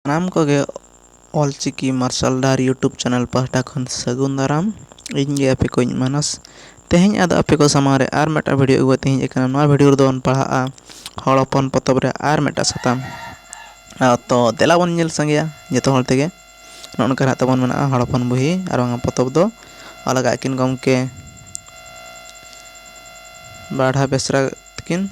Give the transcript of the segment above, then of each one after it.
ᱥᱟᱱᱟᱢ ᱠᱚᱜᱮ ᱚᱞ ᱪᱤᱠᱤ ᱢᱟᱨᱥᱟᱞ ᱰᱟᱦᱟᱨ ᱤᱭᱩᱴᱩᱵᱽ ᱪᱮᱱᱮᱞ ᱯᱟᱦᱴᱟ ᱠᱷᱚᱱ ᱥᱟᱹᱜᱩᱱ ᱫᱟᱨᱟᱢ ᱤᱧ ᱜᱮ ᱟᱯᱮ ᱠᱚᱧ ᱢᱟᱱᱚᱥ ᱛᱮᱦᱮᱧ ᱟᱫᱚ ᱟᱯᱮ ᱠᱚ ᱥᱟᱢᱟᱝ ᱨᱮ ᱟᱨ ᱢᱤᱫᱴᱟᱝ ᱵᱷᱤᱰᱭᱳ ᱟᱹᱜᱩ ᱠᱟᱛᱮᱫ ᱤᱧ ᱦᱮᱡ ᱟᱠᱟᱱᱟ ᱱᱚᱣᱟ ᱵᱷᱤᱰᱭᱳ ᱨᱮᱫᱚ ᱵᱚᱱ ᱯᱟᱲᱦᱟᱜᱼᱟ ᱦᱚᱲ ᱦᱚᱯᱚᱱ ᱯᱚᱛᱚᱵ ᱨᱮ ᱟᱨ ᱢᱤᱫᱴᱟᱝ ᱥᱟᱛᱟᱢ ᱛᱚ ᱫᱮᱞᱟ ᱵᱚᱱ ᱧᱮᱞ ᱥᱟᱸᱜᱮᱭᱟ ᱡᱚᱛᱚ ᱦᱚᱲ ᱛᱮᱜᱮ ᱱᱚᱜᱼᱚ ᱱᱚᱝᱠᱟ ᱱᱟᱦᱟᱜ ᱛᱟᱵᱚᱱ ᱢᱮᱱᱟᱜᱼᱟ ᱦᱚᱲ ᱦᱚᱯᱚᱱ ᱵᱩᱦᱤ ᱟᱨ ᱵᱟᱝᱟ ᱯᱚᱛᱚᱵ ᱫᱚ ᱚᱞ ᱟᱠᱟᱫ ᱟᱹᱠᱤᱱ ᱜᱚᱢᱠᱮ ᱵᱟᱰᱷᱟ ᱵᱮᱥᱨᱟ ᱛᱟᱹᱠᱤᱱ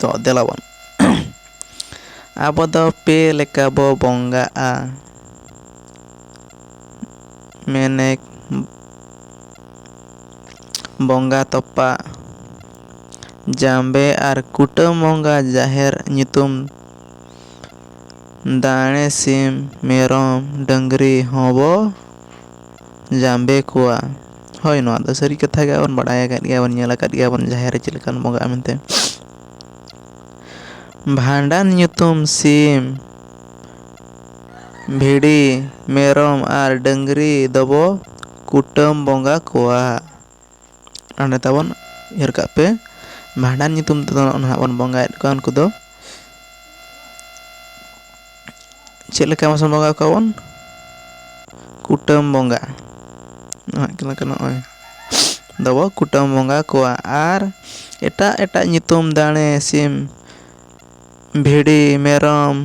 ᱛᱚ ᱫᱮᱞᱟ ᱵᱚᱱ ᱟᱵᱚ ᱫᱚ ᱯᱮ ᱞᱮᱠᱟ ᱵᱚ ᱵᱚᱸᱜᱟᱜᱼᱟ ᱢᱮᱱᱮᱠ ᱵᱚᱸᱜᱟ ᱛᱚᱯᱟᱜ ᱡᱟᱸᱵᱮ ᱟᱨ ᱠᱩᱴᱟᱹᱢ ᱵᱚᱸᱜᱟ ᱡᱟᱦᱮᱨ ᱧᱩᱛᱩᱢ ᱫᱟᱲᱮ ᱥᱤᱢ ᱢᱮᱨᱚᱢ ᱰᱟᱹᱝᱨᱤ ᱦᱚᱸᱵᱚ ᱡᱟᱸᱵᱮ ᱠᱚᱣᱟ ᱦᱳᱭ ᱱᱚᱣᱟ ᱫᱚ ᱥᱟᱹᱨᱤ ᱠᱟᱛᱷᱟ ᱜᱮ ᱟᱨ ᱵᱟᱲᱟᱭ ᱟᱠᱟᱫ ᱜᱮᱭᱟ ᱵᱚᱱ ᱧᱮᱞ ᱟᱠᱟᱫ ᱜᱮᱭᱟ ᱵᱚᱱ ᱡᱟᱦᱮᱨ ᱨᱮ ᱪᱮᱫ ᱞᱮᱠᱟᱱ ᱵᱚᱸᱜᱟᱜᱼᱟ ᱢᱮᱱᱛᱮ ᱵᱷᱟᱸᱰᱟᱱ ᱧᱩᱛᱩᱢ ᱥᱤᱢ ᱵᱷᱤᱰᱤ ᱢᱮᱨᱚᱢ ᱟᱨ ᱰᱟᱹᱝᱨᱤ ᱫᱚᱵᱚ ᱠᱩᱴᱟᱹᱢ ᱵᱚᱸᱜᱟ ᱠᱚᱣᱟ ᱚᱸᱰᱮ ᱛᱟᱵᱚᱱ ᱩᱭᱦᱟᱹᱨ ᱠᱟᱜ ᱯᱮ ᱵᱷᱟᱸᱰᱟᱱ ᱧᱩᱛᱩᱢ ᱛᱮᱫᱚ ᱱᱟᱦᱟᱜ ᱵᱚᱱ ᱵᱚᱸᱜᱟᱭᱮᱫ ᱠᱚᱣᱟ ᱩᱱᱠᱩ ᱫᱚ ᱪᱮᱫ ᱞᱮᱠᱟ ᱢᱟᱥᱮ ᱵᱚᱸᱜᱟ ᱠᱚᱣᱟ ᱵᱚᱱ ᱠᱩᱴᱟᱹᱢ ᱵᱚᱸᱜᱟ ᱪᱮᱫ ᱞᱮᱠᱟ ᱱᱚᱜᱼᱚᱭ ᱫᱚᱵᱚ ᱠᱩᱴᱟᱹᱢ ᱵᱚᱸᱜᱟ ᱠᱚᱣᱟ ᱟᱨ ᱮᱴᱟᱜ ᱮᱴᱟᱜ ᱧᱩᱛᱩᱢ ᱫᱟᱲᱮ ᱥᱤᱢ ᱵᱷᱤᱰᱤ ᱢᱮᱨᱚᱢ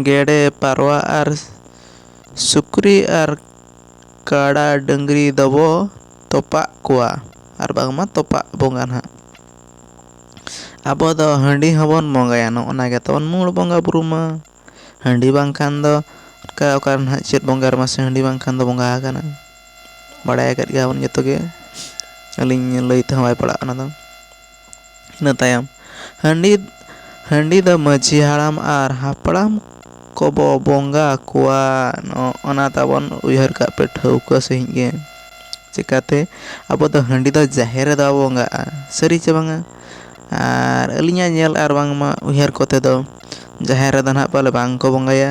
ᱜᱮᱰᱮ ᱯᱟᱨᱣᱟ ᱟᱨ ᱥᱩᱠᱨᱤ ᱟᱨ ᱠᱟᱰᱟ ᱰᱟᱹᱝᱨᱤ ᱫᱚᱵᱚ ᱛᱚᱯᱟᱜ ᱠᱚᱣᱟ ᱟᱨ ᱵᱟᱝᱢᱟ ᱛᱚᱯᱟᱜ ᱵᱚᱸᱜᱟ ᱦᱟᱸᱜ ᱟᱵᱚ ᱫᱚ ᱦᱟᱺᱰᱤ ᱦᱚᱸᱵᱚᱱ ᱵᱚᱸᱜᱟᱭᱟ ᱱᱚᱜᱼᱚ ᱱᱟ ᱜᱮᱛᱚ ᱢᱩᱬ ᱵᱚᱸᱜᱟᱼᱵᱩᱨᱩ ᱢᱟ ᱦᱟᱺᱰᱤ ᱵᱟᱝᱠᱷᱟᱱ ᱫᱚ ᱚᱱᱠᱟ ᱚᱠᱟ ᱨᱮ ᱦᱟᱸᱜ ᱪᱮᱫ ᱵᱚᱸᱜᱟ ᱨᱮᱢᱟ ᱥᱮ ᱦᱟᱺᱰᱤ ᱵᱟᱝᱠᱷᱟᱱ ᱫᱚ ᱵᱚᱸᱜᱟ ᱟᱠᱟᱱᱟ ᱵᱟᱲᱟᱭ ᱟᱠᱟᱫ ᱜᱮᱭᱟᱵᱚᱱ ᱡᱚᱛᱚᱜᱮ ᱟᱹᱞᱤᱧ ᱞᱟᱹᱭ ᱛᱮᱦᱚᱸ ᱵᱟᱭ ᱯᱟᱲᱟᱜᱼᱟ ᱚᱱᱟᱫᱚ ᱤᱱᱟᱹ ᱛᱟᱭᱚᱢ ᱦᱟᱺᱰᱤ ᱦᱟᱺᱰᱤ ᱫᱚ ᱢᱟᱺᱡᱷᱤ ᱦᱟᱲᱟᱢ ᱟᱨ ᱦᱟᱯᱲᱟᱢ ᱠᱚᱵᱚ ᱵᱚᱸᱜᱟ ᱟᱠᱚᱣᱟ ᱚᱱᱟ ᱛᱟᱵᱚᱱ ᱩᱭᱦᱟᱹᱨ ᱠᱟᱜ ᱯᱮ ᱴᱷᱟᱹᱣᱠᱟᱹ ᱥᱟᱺᱦᱤᱡ ᱜᱮ ᱪᱤᱠᱟᱹᱛᱮ ᱟᱵᱚ ᱫᱚ ᱦᱟᱺᱰᱤ ᱫᱚ ᱡᱟᱦᱮᱨ ᱨᱮᱫᱚ ᱵᱟᱵᱚ ᱵᱚᱸᱜᱟᱜᱼᱟ ᱥᱟᱹᱨᱤ ᱪᱮ ᱵᱟᱝᱟ ᱟᱨ ᱟᱹᱞᱤᱧᱟᱜ ᱧᱮᱞ ᱟᱨ ᱵᱟᱝᱢᱟ ᱩᱭᱦᱟᱹᱨ ᱠᱚᱛᱮ ᱫᱚ ᱡᱟᱦᱮᱨ ᱨᱮᱫᱚ ᱦᱟᱸᱜ ᱯᱟᱞᱮ ᱵᱟᱝ ᱠᱚ ᱵᱚᱸᱜᱟᱭᱟ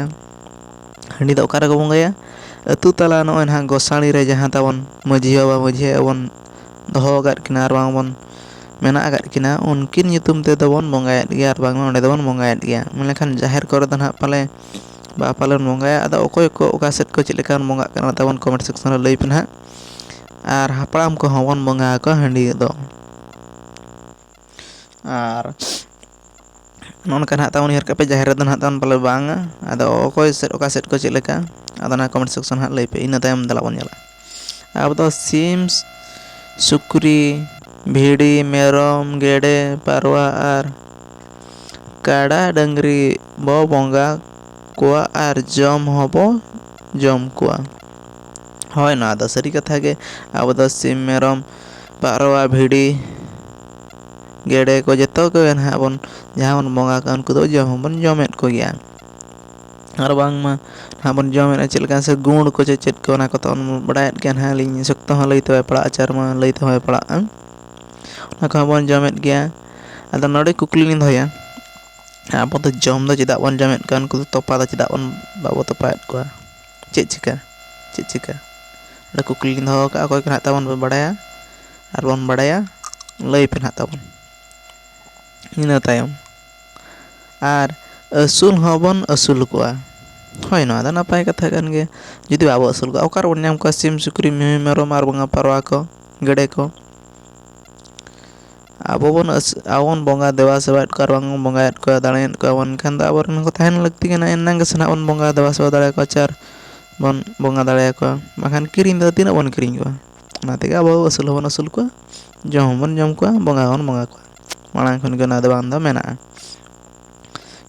ᱦᱟᱺᱰᱤ ᱫᱚ ᱚᱠᱟ ᱨᱮᱠᱚ ᱵᱚᱸᱜᱟᱭᱟ ᱟᱹᱛᱩ ᱛᱟᱞᱟ ᱱᱚᱜᱼᱚᱭ ᱱᱟᱦᱟᱜ ᱜᱚᱥᱟᱬᱮ ᱨᱮ ᱡᱟᱦᱟᱸ ᱛᱟᱵᱚᱱ ᱢᱟᱺᱡᱷᱤ ᱵᱟᱵᱟ ᱢᱟᱺᱡᱷᱤ ᱟᱭᱳ ᱵᱚᱱ ᱫᱚᱦᱚ ᱟᱠᱟᱫ ᱠᱤᱱᱟ ᱟᱨ ᱵᱟᱝ ᱵᱚᱱ ᱢᱮᱱᱟᱜ ᱟᱠᱟᱫ ᱠᱤᱱᱟ ᱩᱱᱠᱤᱱ ᱧᱩᱛᱩᱢ ᱛᱮᱫᱚ ᱵᱚᱱ ᱵᱚᱸᱜᱟᱭᱮᱫ ᱜᱮᱭᱟ ᱟᱨ ᱵᱟᱝᱢᱟ ᱚᱸᱰᱮ ᱫᱚᱵᱚᱱ ᱵᱚᱸᱜᱟᱭᱮᱫ ᱜᱮᱭᱟ ᱢᱮᱱ ᱞᱮᱠᱷᱟᱱ ᱡᱟᱦᱮᱨ ᱠᱚᱨᱮ ᱫᱚ ᱦᱟᱸᱜ ᱯᱟᱞᱮ ᱵᱟ ᱯᱟᱞᱮᱱ ᱵᱚᱸᱜᱟᱭᱟ ᱟᱫᱚ ᱚᱠᱚᱭ ᱠᱚ ᱚᱠᱟ ᱥᱮᱫ ᱠᱚ ᱪᱮᱫ ᱞᱮᱠᱟ ᱵᱚᱱ ᱵᱚᱸᱜᱟᱜ ᱠᱟᱱᱟ ᱚᱱᱟ ᱛᱟᱵᱚᱱ ᱠᱚᱢᱮᱱᱴ ᱥᱮᱠᱥᱮᱱ ᱨᱮ ᱞᱟᱹᱭ ᱯᱮ ᱦᱟᱸᱜ ᱟᱨ ᱦᱟᱯᱲᱟᱢ ᱠᱚᱦᱚᱸ ᱵᱚᱱ ᱵᱚᱸᱜᱟ ᱟᱠᱚᱣᱟ ᱦᱟᱺᱰᱤ ᱫᱚ ᱟᱨ ᱱᱚᱜᱼᱚ ᱱᱚᱝᱠᱟ ᱱᱟᱦᱟᱜ ᱛᱟᱵᱚᱱ ᱩᱭᱦᱟᱹᱨ ᱠᱟᱜ ᱯᱮ ᱡᱟᱦᱮᱨ ᱨᱮᱫᱚ ᱱᱟᱦᱟᱜ ᱛᱟᱵᱚᱱ ᱯᱟᱞᱮ ᱵᱟᱝᱟ ᱟᱫᱚ ᱚᱠᱚᱭ ᱥᱮᱫ ᱚᱠᱟ ᱥᱮᱫ ᱠᱚ ᱪᱮᱫ ᱞᱮᱠᱟ ᱟᱫᱚ ᱚᱱᱟ ᱠᱚᱢᱮᱱᱴ ᱥᱮᱠᱥᱚᱱ ᱦᱟᱸᱜ ᱞᱟᱹᱭ ᱯᱮ ᱤᱱᱟᱹ ᱛᱟᱭᱚᱢ ᱫᱮᱞᱟ ᱵᱚᱱ ᱧᱮᱞᱟ ᱟᱵᱚ ᱫᱚ ᱥᱤᱢ ᱥᱩᱠᱨᱤ ᱵᱷᱤᱰᱤ ᱢᱮᱨᱚᱢ ᱜᱮᱰᱮ ᱯᱟᱨᱣᱟ ᱟᱨ ᱠᱟᱰᱟ ᱰᱟᱹᱝᱨᱤ ᱵᱚ ᱵᱚᱸᱜᱟ ᱠᱚᱣᱟ ᱟᱨ ᱡᱚᱢ ᱦᱚᱸᱵᱚ ᱡᱚᱢ ᱠᱚᱣᱟ ᱦᱳᱭ ᱱᱚᱣᱟ ᱫᱚ ᱥᱟᱹᱨᱤ ᱠᱟᱛᱷᱟ ᱜᱮ ᱟᱵᱚ ᱫᱚ ᱥᱤᱢ ᱢᱮᱨᱚᱢ ᱯᱟᱨᱣᱟ ᱵᱷᱤᱰᱤ ᱜᱮᱰᱮ ᱠᱚ ᱡᱚᱛᱚ ᱠᱚᱜᱮ ᱱᱟᱦᱟᱜ ᱵᱚᱱ ᱡᱟᱦᱟᱸ ᱵᱚᱱ ᱵᱚᱸᱜᱟ ᱠᱚᱣᱟ ᱩᱱᱠᱩ ᱫᱚ ᱡᱚᱢ ᱦᱚᱸᱵᱚᱱ ᱡᱚᱢᱮᱫ ᱠᱚᱜᱮᱭᱟ ᱟᱨ ᱵᱟᱝᱢᱟ ᱱᱟᱦᱟᱜ ᱵᱚᱱ ᱡᱚᱢᱮᱫᱼᱟ ᱪᱮᱫ ᱞᱮᱠᱟ ᱥᱮ ᱜᱩᱲ ᱠᱚ ᱪᱮᱫ ᱪᱮᱫ ᱠᱚ ᱚᱱᱟ ᱠᱚ ᱛᱟᱵᱚᱱ ᱵᱚᱱ ᱵᱟᱲᱟᱭᱮᱫ ᱜᱮᱭᱟ ᱱᱟᱦᱟᱜ ᱟᱹᱞᱤᱧ ᱥᱚᱠᱛᱚ ᱦᱚᱸ ᱞᱟᱹᱭᱛᱮ ᱵᱟᱭ ᱯᱟᱲᱟᱜᱼᱟ ᱟᱪᱟᱨ ᱢᱟ ᱞᱟᱹᱭ ᱛᱮᱦᱚᱸ ᱵᱟᱭ ᱯᱟᱲᱟᱜᱼᱟ ᱚᱱᱟ ᱠᱚᱦᱚᱸ ᱵᱚᱱ ᱡᱚᱢᱮᱫ ᱜᱮᱭᱟ ᱟᱫᱚ ᱱᱚᱰᱮ ᱠᱩᱠᱞᱤ ᱞᱤᱧ ᱫᱚᱦᱚᱭᱟ ᱟᱵᱚ ᱫᱚ ᱡᱚᱢ ᱫᱚ ᱪᱮᱫᱟᱜ ᱵᱚᱱ ᱡᱚᱢᱮᱫ ᱠᱚᱣᱟ ᱩᱱᱠᱩ ᱫᱚ ᱛᱚᱯᱟ ᱫᱚ ᱪᱮᱫᱟᱜ ᱵᱚᱱ ᱵᱟᱵᱚ ᱛᱚᱯᱟᱭᱮᱫ ᱠᱚᱣᱟ ᱪᱮᱫ ᱪᱤᱠᱟᱹ ᱪᱮᱫ ᱪᱤᱠᱟᱹ ᱚᱸᱰᱮ ᱠᱩᱠᱞᱤ ᱞᱤᱧ ᱫᱚᱦᱚ ᱟᱠᱟᱫᱼᱟ ᱚᱠᱚᱭ ᱠᱚ ᱱᱟᱦᱟᱜ ᱛᱟᱵᱚᱱ ᱯᱮ ᱵᱟᱲᱟᱭᱟ ᱟᱨ ᱵᱚᱱ ᱵᱟᱲᱟᱭᱟ ᱞᱟᱹᱭ ᱯᱮ ᱱᱟᱦᱟᱜ ᱛᱟᱵᱚᱱ ᱤᱱᱟᱹ ᱛᱟᱭᱚᱢ ᱟᱨ ᱟᱹᱥᱩᱞ ᱦᱚᱸᱵᱚᱱ ᱟᱹᱥᱩᱞ ᱠᱚᱣᱟ ᱦᱳᱭ ᱱᱚᱣᱟ ᱫᱚ ᱱᱟᱯᱟᱭ ᱠᱟᱛᱷᱟ ᱠᱟᱱ ᱜᱮᱭᱟ ᱡᱩᱫᱤ ᱵᱟᱵᱚᱱ ᱟᱹᱥᱩᱞ ᱠᱚᱣᱟ ᱚᱠᱟ ᱨᱮᱵᱚᱱ ᱧᱟᱢ ᱠᱚᱣᱟ ᱥᱤᱢ ᱥᱩᱠᱨᱤ ᱢᱤᱦᱩ ᱢᱮᱨᱚᱢ ᱟᱨ ᱵᱟᱝᱟ ᱯᱟᱨᱣᱟ ᱠᱚ ᱜᱮᱰᱮ ᱠᱚ ᱟᱵᱚ ᱵᱚᱱ ᱟᱵᱚ ᱵᱚᱱ ᱵᱚᱸᱜᱟ ᱫᱮᱵᱟ ᱥᱮᱵᱟᱭᱮᱫ ᱠᱚᱣᱟ ᱟᱨ ᱵᱟᱝᱵᱚᱱ ᱵᱚᱸᱜᱟᱭᱮᱫ ᱠᱚᱣᱟ ᱫᱟᱲᱮᱭᱮᱫ ᱠᱚᱣᱟ ᱵᱚᱱ ᱮᱱᱠᱷᱟᱱ ᱫᱚ ᱟᱵᱚ ᱨᱮᱱ ᱦᱚᱸᱠᱚ ᱛᱟᱦᱮᱱ ᱞᱟᱹᱠᱛᱤ ᱠᱟᱱᱟ ᱮᱱᱟᱝ ᱜᱮᱥᱮ ᱦᱟᱸᱜ ᱵᱚᱱ ᱵᱚᱸᱜᱟ ᱫᱮᱵᱟ ᱥᱮᱵᱟ ᱫᱟᱲᱮ ᱟᱠᱚᱣᱟ ᱪᱮ ᱟᱨ ᱵᱚᱱ ᱵᱚᱸᱜᱟ ᱫᱟᱲᱮ ᱟᱠᱚᱣᱟ ᱵᱟᱠᱷᱟᱱ ᱠᱤᱨᱤᱧ ᱛᱮᱫᱚ ᱛᱤᱱᱟᱹᱜ ᱵᱚᱱ ᱠᱤᱨᱤᱧ ᱠᱚᱣᱟ ᱚᱱᱟ ᱛᱮᱜᱮ ᱟᱵᱚ ᱟᱹᱥᱩᱞ ᱦᱚᱸᱵᱚᱱ ᱟᱹᱥᱩᱞ ᱠᱚᱣᱟ ᱡᱚᱢ ᱦᱚᱸᱵᱚᱱ ᱡᱚᱢ ᱠᱚᱣᱟ ᱵᱚᱸᱜᱟ ᱦᱚᱸᱵᱚᱱ ᱵᱚᱸᱜᱟ ᱠᱚᱣᱟ ᱢᱟᱲᱟᱝ ᱠᱷᱚᱱᱜᱮ ᱚᱱᱟᱫᱚ ᱵᱟᱝ ᱫᱚ ᱢᱮᱱᱟᱜᱼᱟ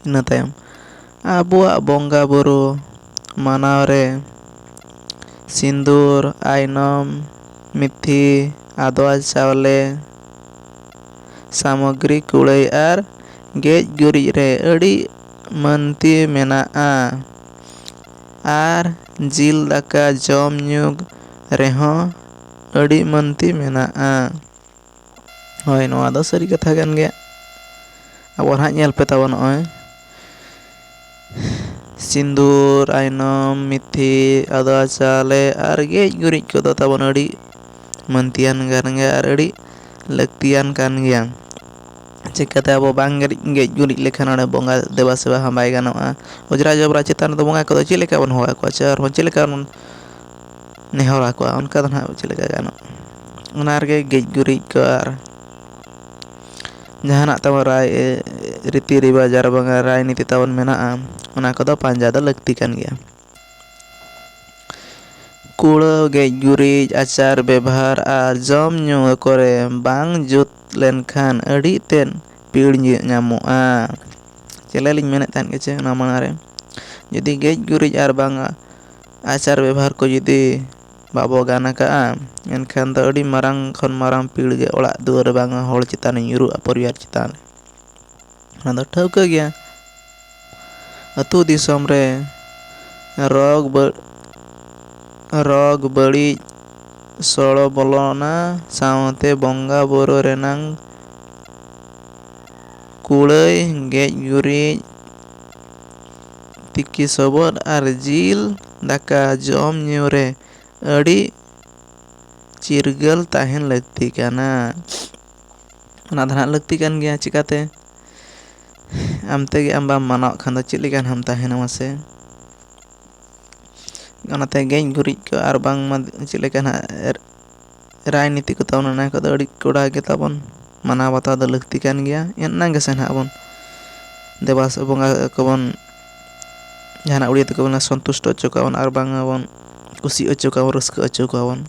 ᱤᱱᱟᱹ ᱛᱟᱭᱚᱢ ᱟᱵᱚᱣᱟᱜ ᱵᱚᱸᱜᱟ ᱵᱳᱨᱳ ᱢᱟᱱᱟᱣ ᱨᱮ ᱥᱤᱸᱫᱩᱨ ᱟᱭᱱᱚᱢ ᱢᱤᱛᱷᱤ ᱟᱫᱽᱣᱟ ᱪᱟᱣᱞᱮ ᱥᱟᱢᱚᱜᱽᱨᱤ ᱠᱩᱲᱟᱹᱭ ᱟᱨ ᱜᱮᱡ ᱜᱩᱨᱤᱡ ᱨᱮ ᱟᱹᱰᱤ ᱢᱟᱹᱱᱛᱤ ᱢᱮᱱᱟᱜᱼᱟ ᱟᱨ ᱡᱤᱞ ᱫᱟᱠᱟ ᱡᱚᱢ ᱧᱩ ᱨᱮᱦᱚᱸ ᱟᱹᱰᱤ ᱢᱟᱹᱱᱛᱤ ᱢᱮᱱᱟᱜᱼᱟ ᱦᱳᱭ ᱱᱚᱣᱟ ᱫᱚ ᱥᱟᱹᱨᱤ ᱠᱟᱛᱷᱟ ᱠᱟᱱ ᱜᱮᱭᱟ ᱟᱵᱚ ᱱᱟᱦᱟᱜ ᱧᱮᱞ ᱯᱮ ᱛᱟᱵᱚᱱ ᱱᱚᱜᱼᱚᱭ ᱥᱤᱸᱫᱩᱨ ᱟᱭᱱᱚᱢ ᱢᱤᱛᱷᱤ ᱟᱫᱽᱣᱟ ᱪᱟᱣᱞᱮ ᱟᱨ ᱜᱮᱡ ᱜᱩᱨᱤᱡ ᱠᱚᱫᱚ ᱛᱟᱵᱚᱱ ᱟᱹᱰᱤ ᱢᱟᱹᱱᱛᱤᱭᱟᱱ ᱠᱟᱱ ᱜᱮᱭᱟ ᱟᱨ ᱟᱹᱰᱤ ᱞᱟᱹᱠᱛᱤᱭᱟᱱ ᱠᱟᱱ ᱜᱮᱭᱟ ᱪᱤᱠᱟᱹᱛᱮ ᱟᱵᱚ ᱵᱟᱝ ᱜᱮᱡ ᱜᱩᱨᱤᱡ ᱞᱮᱠᱷᱟᱱ ᱚᱸᱰᱮ ᱵᱚᱸᱜᱟ ᱫᱮᱵᱟ ᱥᱮᱵᱟ ᱦᱚᱸ ᱵᱟᱭ ᱜᱟᱱᱚᱜᱼᱟ ᱚᱡᱽᱨᱟ ᱡᱚᱵᱽᱨᱟ ᱪᱮᱛᱟᱱ ᱨᱮᱫᱚ ᱵᱚᱸᱜᱟ ᱠᱚᱫᱚ ᱪᱮᱫ ᱞᱮᱠᱟ ᱵᱚᱱ ᱦᱚᱦᱚ ᱟᱠᱚᱣᱟ ᱥᱮ ᱟᱨᱦᱚᱸ ᱪᱮᱫ ᱞᱮᱠᱟ ᱵᱚᱱ ᱱᱮᱦᱚᱨ ᱟᱠᱚᱣᱟ ᱚᱱᱠᱟ ᱫᱚ ᱦᱟᱸᱜ ᱪᱮᱫ ᱞᱮᱠᱟ ᱜᱟᱱᱚᱜᱼᱟ ᱚᱱᱟ ᱨᱮᱜᱮ ᱜᱮᱡ ᱜᱩᱨᱤᱡ ᱠᱚ ᱟᱨ ᱡᱟᱦᱟᱱᱟᱜ ᱛᱟᱵᱚᱱ ᱨᱟᱭ ᱨᱤᱛᱤ ᱨᱮᱣᱟᱡᱽ ᱟᱨ ᱵᱟᱝᱟ ᱨᱟᱭ ᱱᱤᱛᱤ ᱛᱟᱵᱚᱱ ᱢᱮᱱᱟᱜᱼᱟ ᱚᱱᱟ ᱠᱚᱫᱚ ᱯᱟᱸᱡᱟ ᱫᱚ ᱞᱟᱹᱠᱛᱤ ᱠᱟᱱ ᱜᱮᱭᱟ ᱠᱩᱲᱟᱹᱣ ᱜᱮᱡ ᱜᱩᱨᱤᱡ ᱟᱪᱟᱨ ᱵᱮᱵᱷᱟᱨ ᱟᱨ ᱡᱚᱢ ᱧᱩ ᱠᱚᱨᱮ ᱵᱟᱝ ᱡᱩᱛ ᱞᱮᱱᱠᱷᱟᱱ ᱟᱹᱰᱤ ᱛᱮᱫ ᱯᱤᱲ ᱧᱟᱢᱚᱜᱼᱟ ᱪᱮᱞᱮ ᱞᱤᱧ ᱢᱮᱱᱮᱫ ᱛᱟᱦᱮᱱ ᱜᱮᱪᱚ ᱚᱱᱟ ᱢᱟᱲᱟᱝ ᱨᱮ ᱡᱩᱫᱤ ᱜᱮᱡ ᱜᱩᱨᱤᱡ ᱟᱨ ᱵᱟᱝᱟ ᱟᱪᱟᱨ ᱵᱮᱵᱷᱟᱨ ᱠᱚ ᱡᱩᱫᱤ ᱵᱟᱵᱚ ᱜᱟᱱ ᱟᱠᱟᱫᱼᱟ ᱮᱱᱠᱷᱟᱱ ᱫᱚ ᱟᱹᱰᱤ ᱢᱟᱨᱟᱝ ᱠᱷᱚᱱ ᱢᱟᱨᱟᱝ ᱯᱤᱲ ᱜᱮ ᱚᱲᱟᱜ ᱫᱩᱣᱟᱹᱨ ᱵᱟᱝᱟ ᱦᱚᱲ ᱪᱮᱛᱟᱱ ᱨᱮ ᱧᱩᱨᱩᱜᱼᱟ ᱯᱚᱨᱤᱵᱟᱨ ᱪᱮᱛᱟᱱ ᱨᱮ ᱚᱱᱟ ᱫᱚ ᱴᱷᱟᱹᱣᱠᱟᱹ ᱜᱮᱭᱟ ᱟᱹᱛᱩ ᱫᱤᱥᱚᱢ ᱨᱮ ᱨᱳᱜᱽ ᱨᱳᱜᱽ ᱵᱟᱹᱲᱤᱡ ᱥᱚᱲᱚ ᱵᱚᱞᱚᱱᱟ ᱥᱟᱶᱛᱮ ᱵᱚᱸᱜᱟ ᱵᱳᱨᱳ ᱨᱮᱱᱟᱝ ᱠᱩᱲᱟᱹᱭ ᱜᱮᱡ ᱜᱩᱨᱤᱡ ᱛᱤᱠᱤ ᱥᱚᱵᱚᱫ ᱟᱨ ᱡᱤᱞ ᱫᱟᱠᱟ ᱡᱚᱢ ᱧᱩ ᱨᱮ ᱟᱹᱰᱤ ᱪᱤᱨᱜᱟᱹᱞ ᱛᱟᱦᱮᱱ ᱞᱟᱹᱠᱛᱤ ᱠᱟᱱᱟ ᱚᱱᱟ ᱫᱚ ᱦᱟᱸᱜ ᱞᱟᱹᱠᱛᱤ ᱠᱟᱱ ᱜᱮᱭᱟ ᱪᱤᱠᱟᱹᱛᱮ ᱟᱢ ᱛᱮᱜᱮ ᱟᱢ ᱵᱟᱢ ᱢᱟᱱᱟᱣ ᱚᱜ ᱠᱷᱟᱱ ᱫᱚ ᱪᱮᱫ ᱞᱮᱠᱟ ᱱᱟᱜ ᱮᱢ ᱛᱟᱦᱮᱱᱟ ᱢᱟᱥᱮ ᱚᱱᱟᱛᱮ ᱜᱮᱡ ᱜᱩᱨᱤᱡ ᱠᱚ ᱟᱨ ᱵᱟᱝᱢᱟ ᱪᱮᱫ ᱞᱮᱠᱟ ᱱᱟᱜ ᱨᱟᱡᱽᱱᱤᱛᱤ ᱠᱚ ᱛᱟᱵᱚᱱ ᱚᱱᱟ ᱠᱚᱫᱚ ᱟᱹᱰᱤ ᱠᱚᱰᱟ ᱜᱮ ᱛᱟᱵᱚᱱ ᱢᱟᱱᱟᱣ ᱵᱟᱛᱟᱣ ᱫᱚ ᱞᱟᱹᱠᱛᱤ ᱠᱟᱱ ᱜᱮᱭᱟ ᱮᱱᱟᱝ ᱜᱮᱥᱮ ᱱᱟᱦᱟᱜ ᱵᱚᱱ ᱫᱮᱵᱟ ᱥᱮᱵᱟ ᱵᱚᱸᱜᱟ ᱠᱚᱵᱚᱱ ᱡᱟᱦᱟᱱᱟᱜ ᱩᱲᱤᱭᱟ ᱛᱮᱠᱚ ᱢᱮᱱᱟ ᱥᱚᱱᱛᱩᱥᱴᱚ ᱦᱚᱪᱚ ᱠᱚᱣᱟ ᱵᱚᱱ ᱟᱨ ᱵᱟᱝᱟ ᱵᱚᱱ ᱠᱩᱥᱤ ᱦᱚᱪᱚ ᱠᱚᱣᱟ ᱵᱚᱱ ᱨᱟᱹᱥᱠᱟᱹ ᱦᱚᱪᱚ ᱠᱚᱣᱟ ᱵᱚᱱ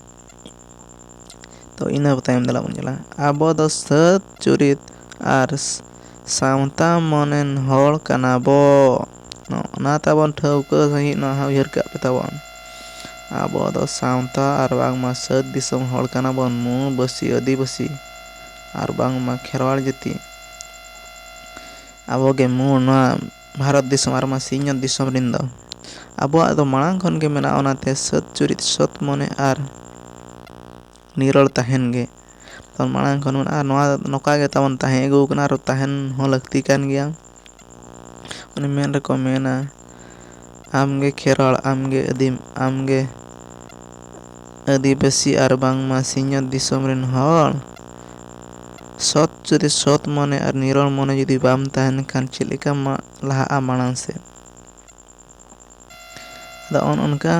ᱛᱚ ᱤᱱᱟᱹ ᱛᱟᱭᱚᱢ ᱫᱮᱞᱟ ᱵᱚᱱ ᱧᱮᱞᱟ ᱟᱵᱚ ᱫᱚ ᱥᱟᱹᱛ ᱪᱩᱨᱤᱛ ᱟᱨ ᱥᱟᱶᱛᱟ ᱢᱟᱹᱱᱟᱱ ᱦᱚᱲ ᱠᱟᱱᱟ ᱵᱚ ᱚᱱᱟ ᱛᱟᱵᱚᱱ ᱴᱷᱟᱹᱣᱠᱟᱹ ᱥᱟᱺᱦᱤᱡ ᱱᱚᱣᱟ ᱦᱚᱸ ᱩᱭᱦᱟᱹᱨ ᱠᱟᱜ ᱯᱮ ᱛᱟᱵᱚᱱ ᱟᱵᱚ ᱫᱚ ᱥᱟᱶᱛᱟ ᱟᱨ ᱵᱟᱝᱢᱟ ᱥᱟᱹᱛ ᱫᱤᱥᱚᱢ ᱦᱚᱲ ᱠᱟᱱᱟ ᱵᱚᱱ ᱢᱩᱬᱩᱵᱟᱹᱥᱤ ᱟᱹᱫᱤᱵᱟᱹᱥᱤ ᱟᱨ ᱵᱟᱝᱢᱟ ᱠᱷᱮᱨᱣᱟᱲ ᱡᱟᱹᱛᱤ ᱟᱵᱚ ᱜᱮ ᱢᱩᱬ ᱱᱚᱣᱟ ᱵᱷᱟᱨᱚᱛ ᱫᱤᱥᱚᱢ ᱟᱨ ᱵᱟᱝᱢᱟ ᱥᱤᱧᱚᱛ ᱫᱤᱥᱚᱢ ᱨᱮᱱ ᱫᱚ ᱟᱵᱚᱣᱟᱜ ᱫᱚ ᱢᱟᱲᱟᱝ ᱠᱷᱚᱱ ᱜᱮ ᱢᱮᱱᱟᱜᱼᱟ ᱚᱱᱟᱛᱮ ᱥᱟᱹᱛ ᱪᱩᱨᱤᱛ ᱥᱚᱛ ᱢᱚᱱᱮ ᱟᱨ ᱱᱤᱨᱚᱲ ᱛᱟᱦᱮᱱ ᱜᱮ ᱢᱟᱲᱟᱝ ᱠᱷᱚᱱ ᱢᱮᱱᱟᱜᱼᱟ ᱱᱚᱣᱟ ᱱᱚᱝᱠᱟ ᱜᱮ ᱛᱟᱵᱚᱱ ᱛᱟᱦᱮᱸ ᱟᱹᱜᱩ ᱠᱟᱱᱟ ᱟᱨ ᱛᱟᱦᱮᱱ ᱦᱚᱸ ᱞᱟᱹᱠᱛᱤ ᱠᱟᱱ ᱜᱮᱭᱟ ᱚᱱᱮ ᱢᱮᱱ ᱨᱮᱠᱚ ᱢᱮᱱᱟ ᱟᱢ ᱜᱮ ᱠᱷᱮᱨᱣᱟᱲ ᱟᱢ ᱜᱮ ᱟᱹᱫᱤᱢ ᱟᱢ ᱜᱮ ᱟᱹᱫᱤᱵᱟᱹᱥᱤ ᱟᱨ ᱵᱟᱝᱢᱟ ᱥᱤᱧᱚᱛ ᱫᱤᱥᱚᱢ ᱨᱮᱱ ᱦᱚᱲ ᱥᱚᱛ ᱡᱩᱫᱤ ᱥᱚᱛ ᱢᱚᱱᱮ ᱟᱨ ᱱᱤᱨᱚᱲ ᱢᱚᱱᱮ ᱡᱩᱫᱤ ᱵᱟᱢ ᱛᱟᱦᱮᱱ ᱠᱷᱟᱱ ᱪᱮᱫ ᱞᱮᱠᱟ ᱞᱟᱦᱟᱜᱼᱟ ᱢᱟᱲᱟᱝ ᱥᱮᱫ ᱟᱫᱚ ᱚᱱ ᱚᱱᱠᱟ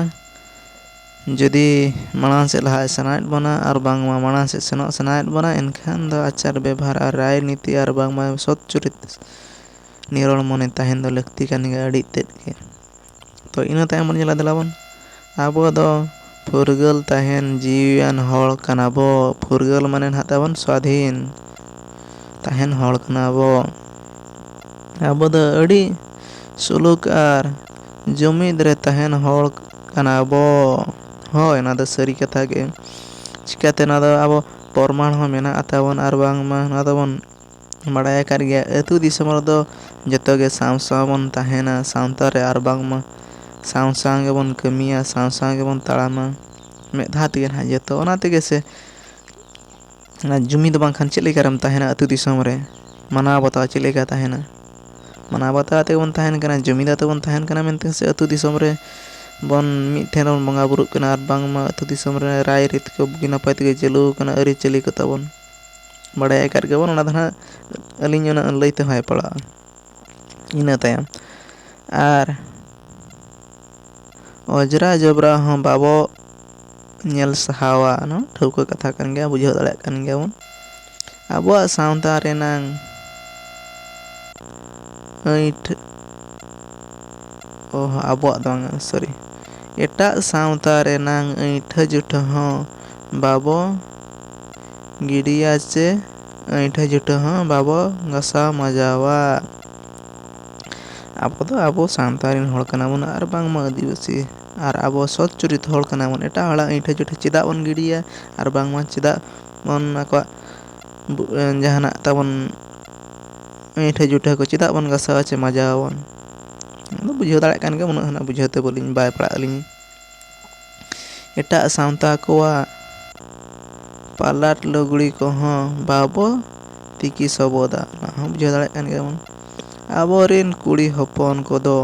ᱡᱩᱫᱤ ᱢᱟᱲᱟᱝ ᱥᱮᱫ ᱞᱟᱦᱟᱜ ᱥᱟᱱᱟᱭᱮᱫ ᱵᱚᱱᱟ ᱟᱨ ᱵᱟᱝᱢᱟ ᱢᱟᱲᱟᱝ ᱥᱮᱫ ᱥᱮᱱᱚᱜ ᱥᱟᱱᱟᱭᱮᱫ ᱵᱚᱱᱟ ᱮᱱᱠᱷᱟᱱ ᱫᱚ ᱟᱪᱟᱨ ᱵᱮᱵᱷᱟᱨ ᱟᱨ ᱨᱟᱭ ᱱᱤᱛᱤ ᱟᱨ ᱵᱟᱝᱢᱟ ᱥᱚᱛ ᱪᱩᱨᱤᱛ ᱱᱤᱨᱚᱲ ᱢᱚᱱᱮ ᱛᱟᱦᱮᱱ ᱫᱚ ᱞᱟᱹᱠᱛᱤ ᱠᱟᱱ ᱜᱮᱭᱟ ᱟᱹᱰᱤ ᱛᱮᱫ ᱜᱮ ᱛᱚ ᱤᱱᱟᱹ ᱛᱟᱭᱚᱢ ᱵᱚᱱ ᱧᱮᱞᱟ ᱫᱮᱞᱟ ᱵᱚᱱ ᱟᱵᱚ ᱫᱚ ᱯᱷᱩᱨᱜᱟᱹᱞ ᱛᱟᱦᱮᱱ ᱡᱤᱣᱤᱭᱟᱱ ᱦᱚᱲ ᱠᱟᱱᱟ ᱵᱚ ᱯᱷᱩᱨᱜᱟᱹᱞ ᱢᱟᱱᱮ ᱱᱟᱦᱟᱜ ᱛᱟᱵᱚᱱ ᱥᱟᱹᱫᱷᱤᱱ ᱛᱟᱦᱮᱱ ᱦᱚᱲ ᱠᱟᱱᱟ ᱵᱚ ᱟᱵᱚ ᱫᱚ ᱟᱹᱰᱤ ᱥᱩᱞᱩᱠ ᱟᱨ ᱡᱩᱢᱤᱫ ᱨᱮ ᱛᱟᱦᱮᱱ ᱦᱚᱲ ᱠᱟᱱᱟ ᱵᱚ᱾ ᱦᱳᱭ ᱱᱚᱣᱟ ᱫᱚ ᱥᱟᱹᱨᱤ ᱠᱟᱛᱷᱟ ᱜᱮ᱾ ᱪᱤᱠᱟᱹᱛᱮ ᱱᱚᱣᱟ ᱫᱚ ᱟᱵᱚ ᱯᱨᱚᱢᱟᱬ ᱦᱚᱸ ᱢᱮᱱᱟᱜᱼᱟ ᱛᱟᱵᱚᱱ ᱟᱨ ᱵᱟᱝᱢᱟ ᱱᱚᱣᱟ ᱫᱚᱵᱚᱱ ᱵᱟᱲᱟᱭ ᱟᱠᱟᱫ ᱜᱮᱭᱟ ᱟᱹᱛᱩ ᱫᱤᱥᱚᱢ ᱨᱮᱫᱚ ᱡᱚᱛᱚ ᱜᱮ ᱥᱟᱶ ᱥᱟᱶ ᱵᱚᱱ ᱛᱟᱦᱮᱱᱟ ᱥᱟᱶᱛᱟ ᱨᱮ ᱟᱨ ᱵᱟᱝᱢᱟ ᱥᱟᱶ ᱥᱟᱶ ᱜᱮᱵᱚᱱ ᱠᱟᱹᱢᱤᱭᱟ ᱥᱟᱶ ᱥᱟᱶ ᱜᱮᱵᱚᱱ ᱛᱟᱲᱟᱢᱟ ᱢᱤᱫ ᱫᱷᱟᱣ ᱛᱮᱜᱮ ᱱᱟᱦᱟᱜ ᱡᱚᱛᱚ ᱚᱱᱟ ᱛᱮᱜᱮ ᱥᱮ ᱚᱱᱟ ᱡᱩᱢᱤᱫ ᱵᱟᱝᱠᱷᱟᱱ ᱪᱮᱫ ᱞᱮᱠᱟᱨᱮᱢ ᱛᱟᱦᱮᱱᱟ ᱟᱹᱛᱩ ᱫᱤᱥᱚᱢ ᱨᱮ ᱢᱟᱱᱟᱣ ᱵᱟᱛᱟᱣ ᱪᱮᱫ ᱞᱮᱠᱟ ᱛᱟᱦᱮᱱᱟ ᱢᱟᱱᱟᱣ ᱵᱟᱛᱟᱣ ᱠᱟᱛᱮᱫ ᱵᱚᱱ ᱛᱟᱦᱮᱱ ᱠᱟᱱᱟ ᱡᱩᱢᱤᱫ ᱠᱟᱛᱮᱫ ᱵᱚᱱ ᱛᱟᱦᱮᱱ ᱠᱟᱱᱟ ᱢᱮᱱᱛᱮ ᱥᱮ ᱟᱹᱛᱩ ᱫᱤᱥᱚᱢ ᱨᱮ ᱵᱚᱱ ᱢᱤᱫ ᱴᱷᱮᱱ ᱵᱚᱱ ᱵᱚᱸᱜᱟ ᱵᱳᱨᱳᱜ ᱠᱟᱱᱟ ᱟᱨ ᱵᱟᱝᱢᱟ ᱟᱹᱛᱩ ᱫᱤᱥᱚᱢ ᱨᱮ ᱨᱟᱭᱼᱨᱤᱛ ᱠᱚ ᱵᱩᱜᱤ ᱱᱟᱯᱟᱭ ᱛᱮᱜᱮ ᱪᱟᱹᱞᱩ ᱠᱟᱱᱟ ᱟᱹᱨᱤᱪᱟᱹᱞᱤ ᱠᱚ ᱛᱟᱵᱚᱱ ᱵᱟᱲᱟᱭ ᱟᱠᱟᱫ ᱜᱮᱭᱟᱵᱚᱱ ᱚᱱᱟ ᱫᱚ ᱦᱟᱸᱜ ᱟᱹᱞᱤᱧ ᱩᱱᱟᱹᱜ ᱞᱟᱹᱭ ᱛᱮᱦᱚᱸ ᱵᱟᱭ ᱯᱟᱲᱟᱜᱼᱟ ᱤᱱᱟᱹ ᱛᱟᱭᱚᱢ ᱟᱨ ᱚᱡᱽᱨᱟ ᱡᱚᱵᱽᱨᱟ ᱦᱚᱸ ᱵᱟᱵᱚ ᱧᱮᱞ ᱥᱟᱦᱟᱣᱟ ᱱᱚᱣᱟ ᱴᱷᱟᱹᱣᱠᱟᱹ ᱠᱟᱛᱷᱟ ᱠᱟᱱ ᱜᱮᱭᱟ ᱵᱩᱡᱷᱟᱹᱣ ᱫᱟᱲᱮᱭᱟᱜ ᱠᱟᱱ ᱜᱮᱭᱟᱵᱚᱱ ᱟᱵᱚᱣᱟᱜ ᱥᱟᱶᱛᱟ ᱨᱮᱱᱟᱝ ᱟᱹᱭᱴᱷ ᱚ ᱟᱵᱚᱣᱟᱜ ᱫᱚ ᱵᱟᱝ ᱥᱚᱨᱤ ᱮᱴᱟᱜ ᱥᱟᱶᱛᱟ ᱨᱮᱱᱟᱝ ᱟᱹᱭᱴᱷᱟᱹ ᱡᱩᱴᱷᱟᱹ ᱦᱚᱸ ᱵᱟᱵᱚ ᱜᱤᱰᱤᱭᱟ ᱪᱮ ᱟᱹᱭᱴᱷᱟᱹ ᱡᱩᱴᱷᱟᱹ ᱦᱚᱸ ᱵᱟᱵᱚ ᱜᱟᱥᱟᱣ ᱢᱟᱡᱟᱣᱟ᱾ ᱟᱵᱚ ᱫᱚ ᱟᱵᱚ ᱥᱟᱶᱛᱟ ᱨᱤᱱ ᱦᱚᱲ ᱠᱟᱱᱟ ᱵᱚᱱ ᱟᱨ ᱵᱟᱝ ᱢᱟ ᱟᱹᱫᱤᱵᱟᱹᱥᱤ ᱟᱨ ᱟᱵᱚ ᱥᱚᱛ ᱪᱩᱨᱤᱛ ᱦᱚᱲ ᱠᱟᱱᱟ ᱵᱚᱱ ᱮᱴᱟᱜ ᱦᱚᱲᱟᱜ ᱟᱹᱭᱴᱷᱟᱹ ᱡᱩᱴᱷᱟᱹ ᱪᱮᱫᱟᱜ ᱵᱚᱱ ᱜᱤᱰᱤᱭᱟ ᱟᱨ ᱵᱟᱝ ᱢᱟ ᱪᱮᱫᱟᱜ ᱵᱚᱱ ᱟᱠᱚᱣᱟᱜ ᱡᱟᱦᱟᱸᱱᱟᱜ ᱛᱟᱵᱚᱱ ᱟᱹᱭᱴᱷᱟᱹ ᱡᱩᱴᱷᱟᱹ ᱠᱚ ᱪᱮᱫᱟᱜ ᱵᱚᱱ ᱜᱟᱥᱟᱣᱟ ᱪᱮ ᱢᱟᱡᱟᱣᱟ ᱵᱚᱱ᱾ ᱵᱩᱡᱷᱟᱹᱣ ᱫᱟᱲᱮᱭᱟᱜ ᱠᱟᱱ ᱜᱮᱭᱟᱢ ᱩᱱᱟᱹᱜ ᱦᱚᱸ ᱱᱟᱜ ᱵᱩᱡᱷᱟᱹᱣ ᱛᱮ ᱵᱟᱹᱞᱤᱧ ᱵᱟᱭ ᱯᱟᱲᱟᱜ ᱟᱹᱞᱤᱧ᱾ ᱮᱴᱟᱜ ᱥᱟᱶᱛᱟ ᱠᱚᱣᱟᱜ ᱯᱟᱞᱟᱴ ᱞᱩᱜᱽᱲᱤ ᱠᱚᱦᱚᱸ ᱵᱟᱵᱚ ᱛᱤᱠᱤ ᱥᱚᱵᱚᱫᱟ ᱚᱱᱟ ᱦᱚᱸ ᱵᱩᱡᱷᱟᱹᱣ ᱫᱟᱲᱮᱭᱟᱜ ᱠᱟᱱ ᱜᱮᱭᱟᱵᱚᱱ ᱟᱵᱚ ᱨᱤᱱ ᱠᱩᱲᱤ ᱦᱚᱯᱚᱱ ᱠᱚᱫᱚ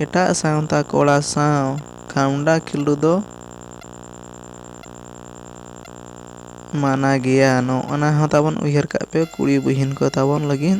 ᱮᱴᱟᱜ ᱥᱟᱶᱛᱟ ᱠᱚᱲᱟ ᱥᱟᱶ ᱠᱷᱟᱢᱰᱟ ᱠᱷᱤᱞᱰᱩ ᱫᱚ ᱢᱟᱱᱟ ᱜᱮᱭᱟ ᱱᱚᱜᱼᱚ ᱱᱟ ᱦᱚᱸ ᱛᱟᱵᱚᱱ ᱩᱭᱦᱟᱹᱨ ᱠᱟᱜ ᱯᱮ ᱠᱩᱲᱤ ᱵᱩᱦᱤᱱ ᱠᱚ ᱛᱟᱵᱚᱱ ᱞᱟᱹᱜᱤᱫ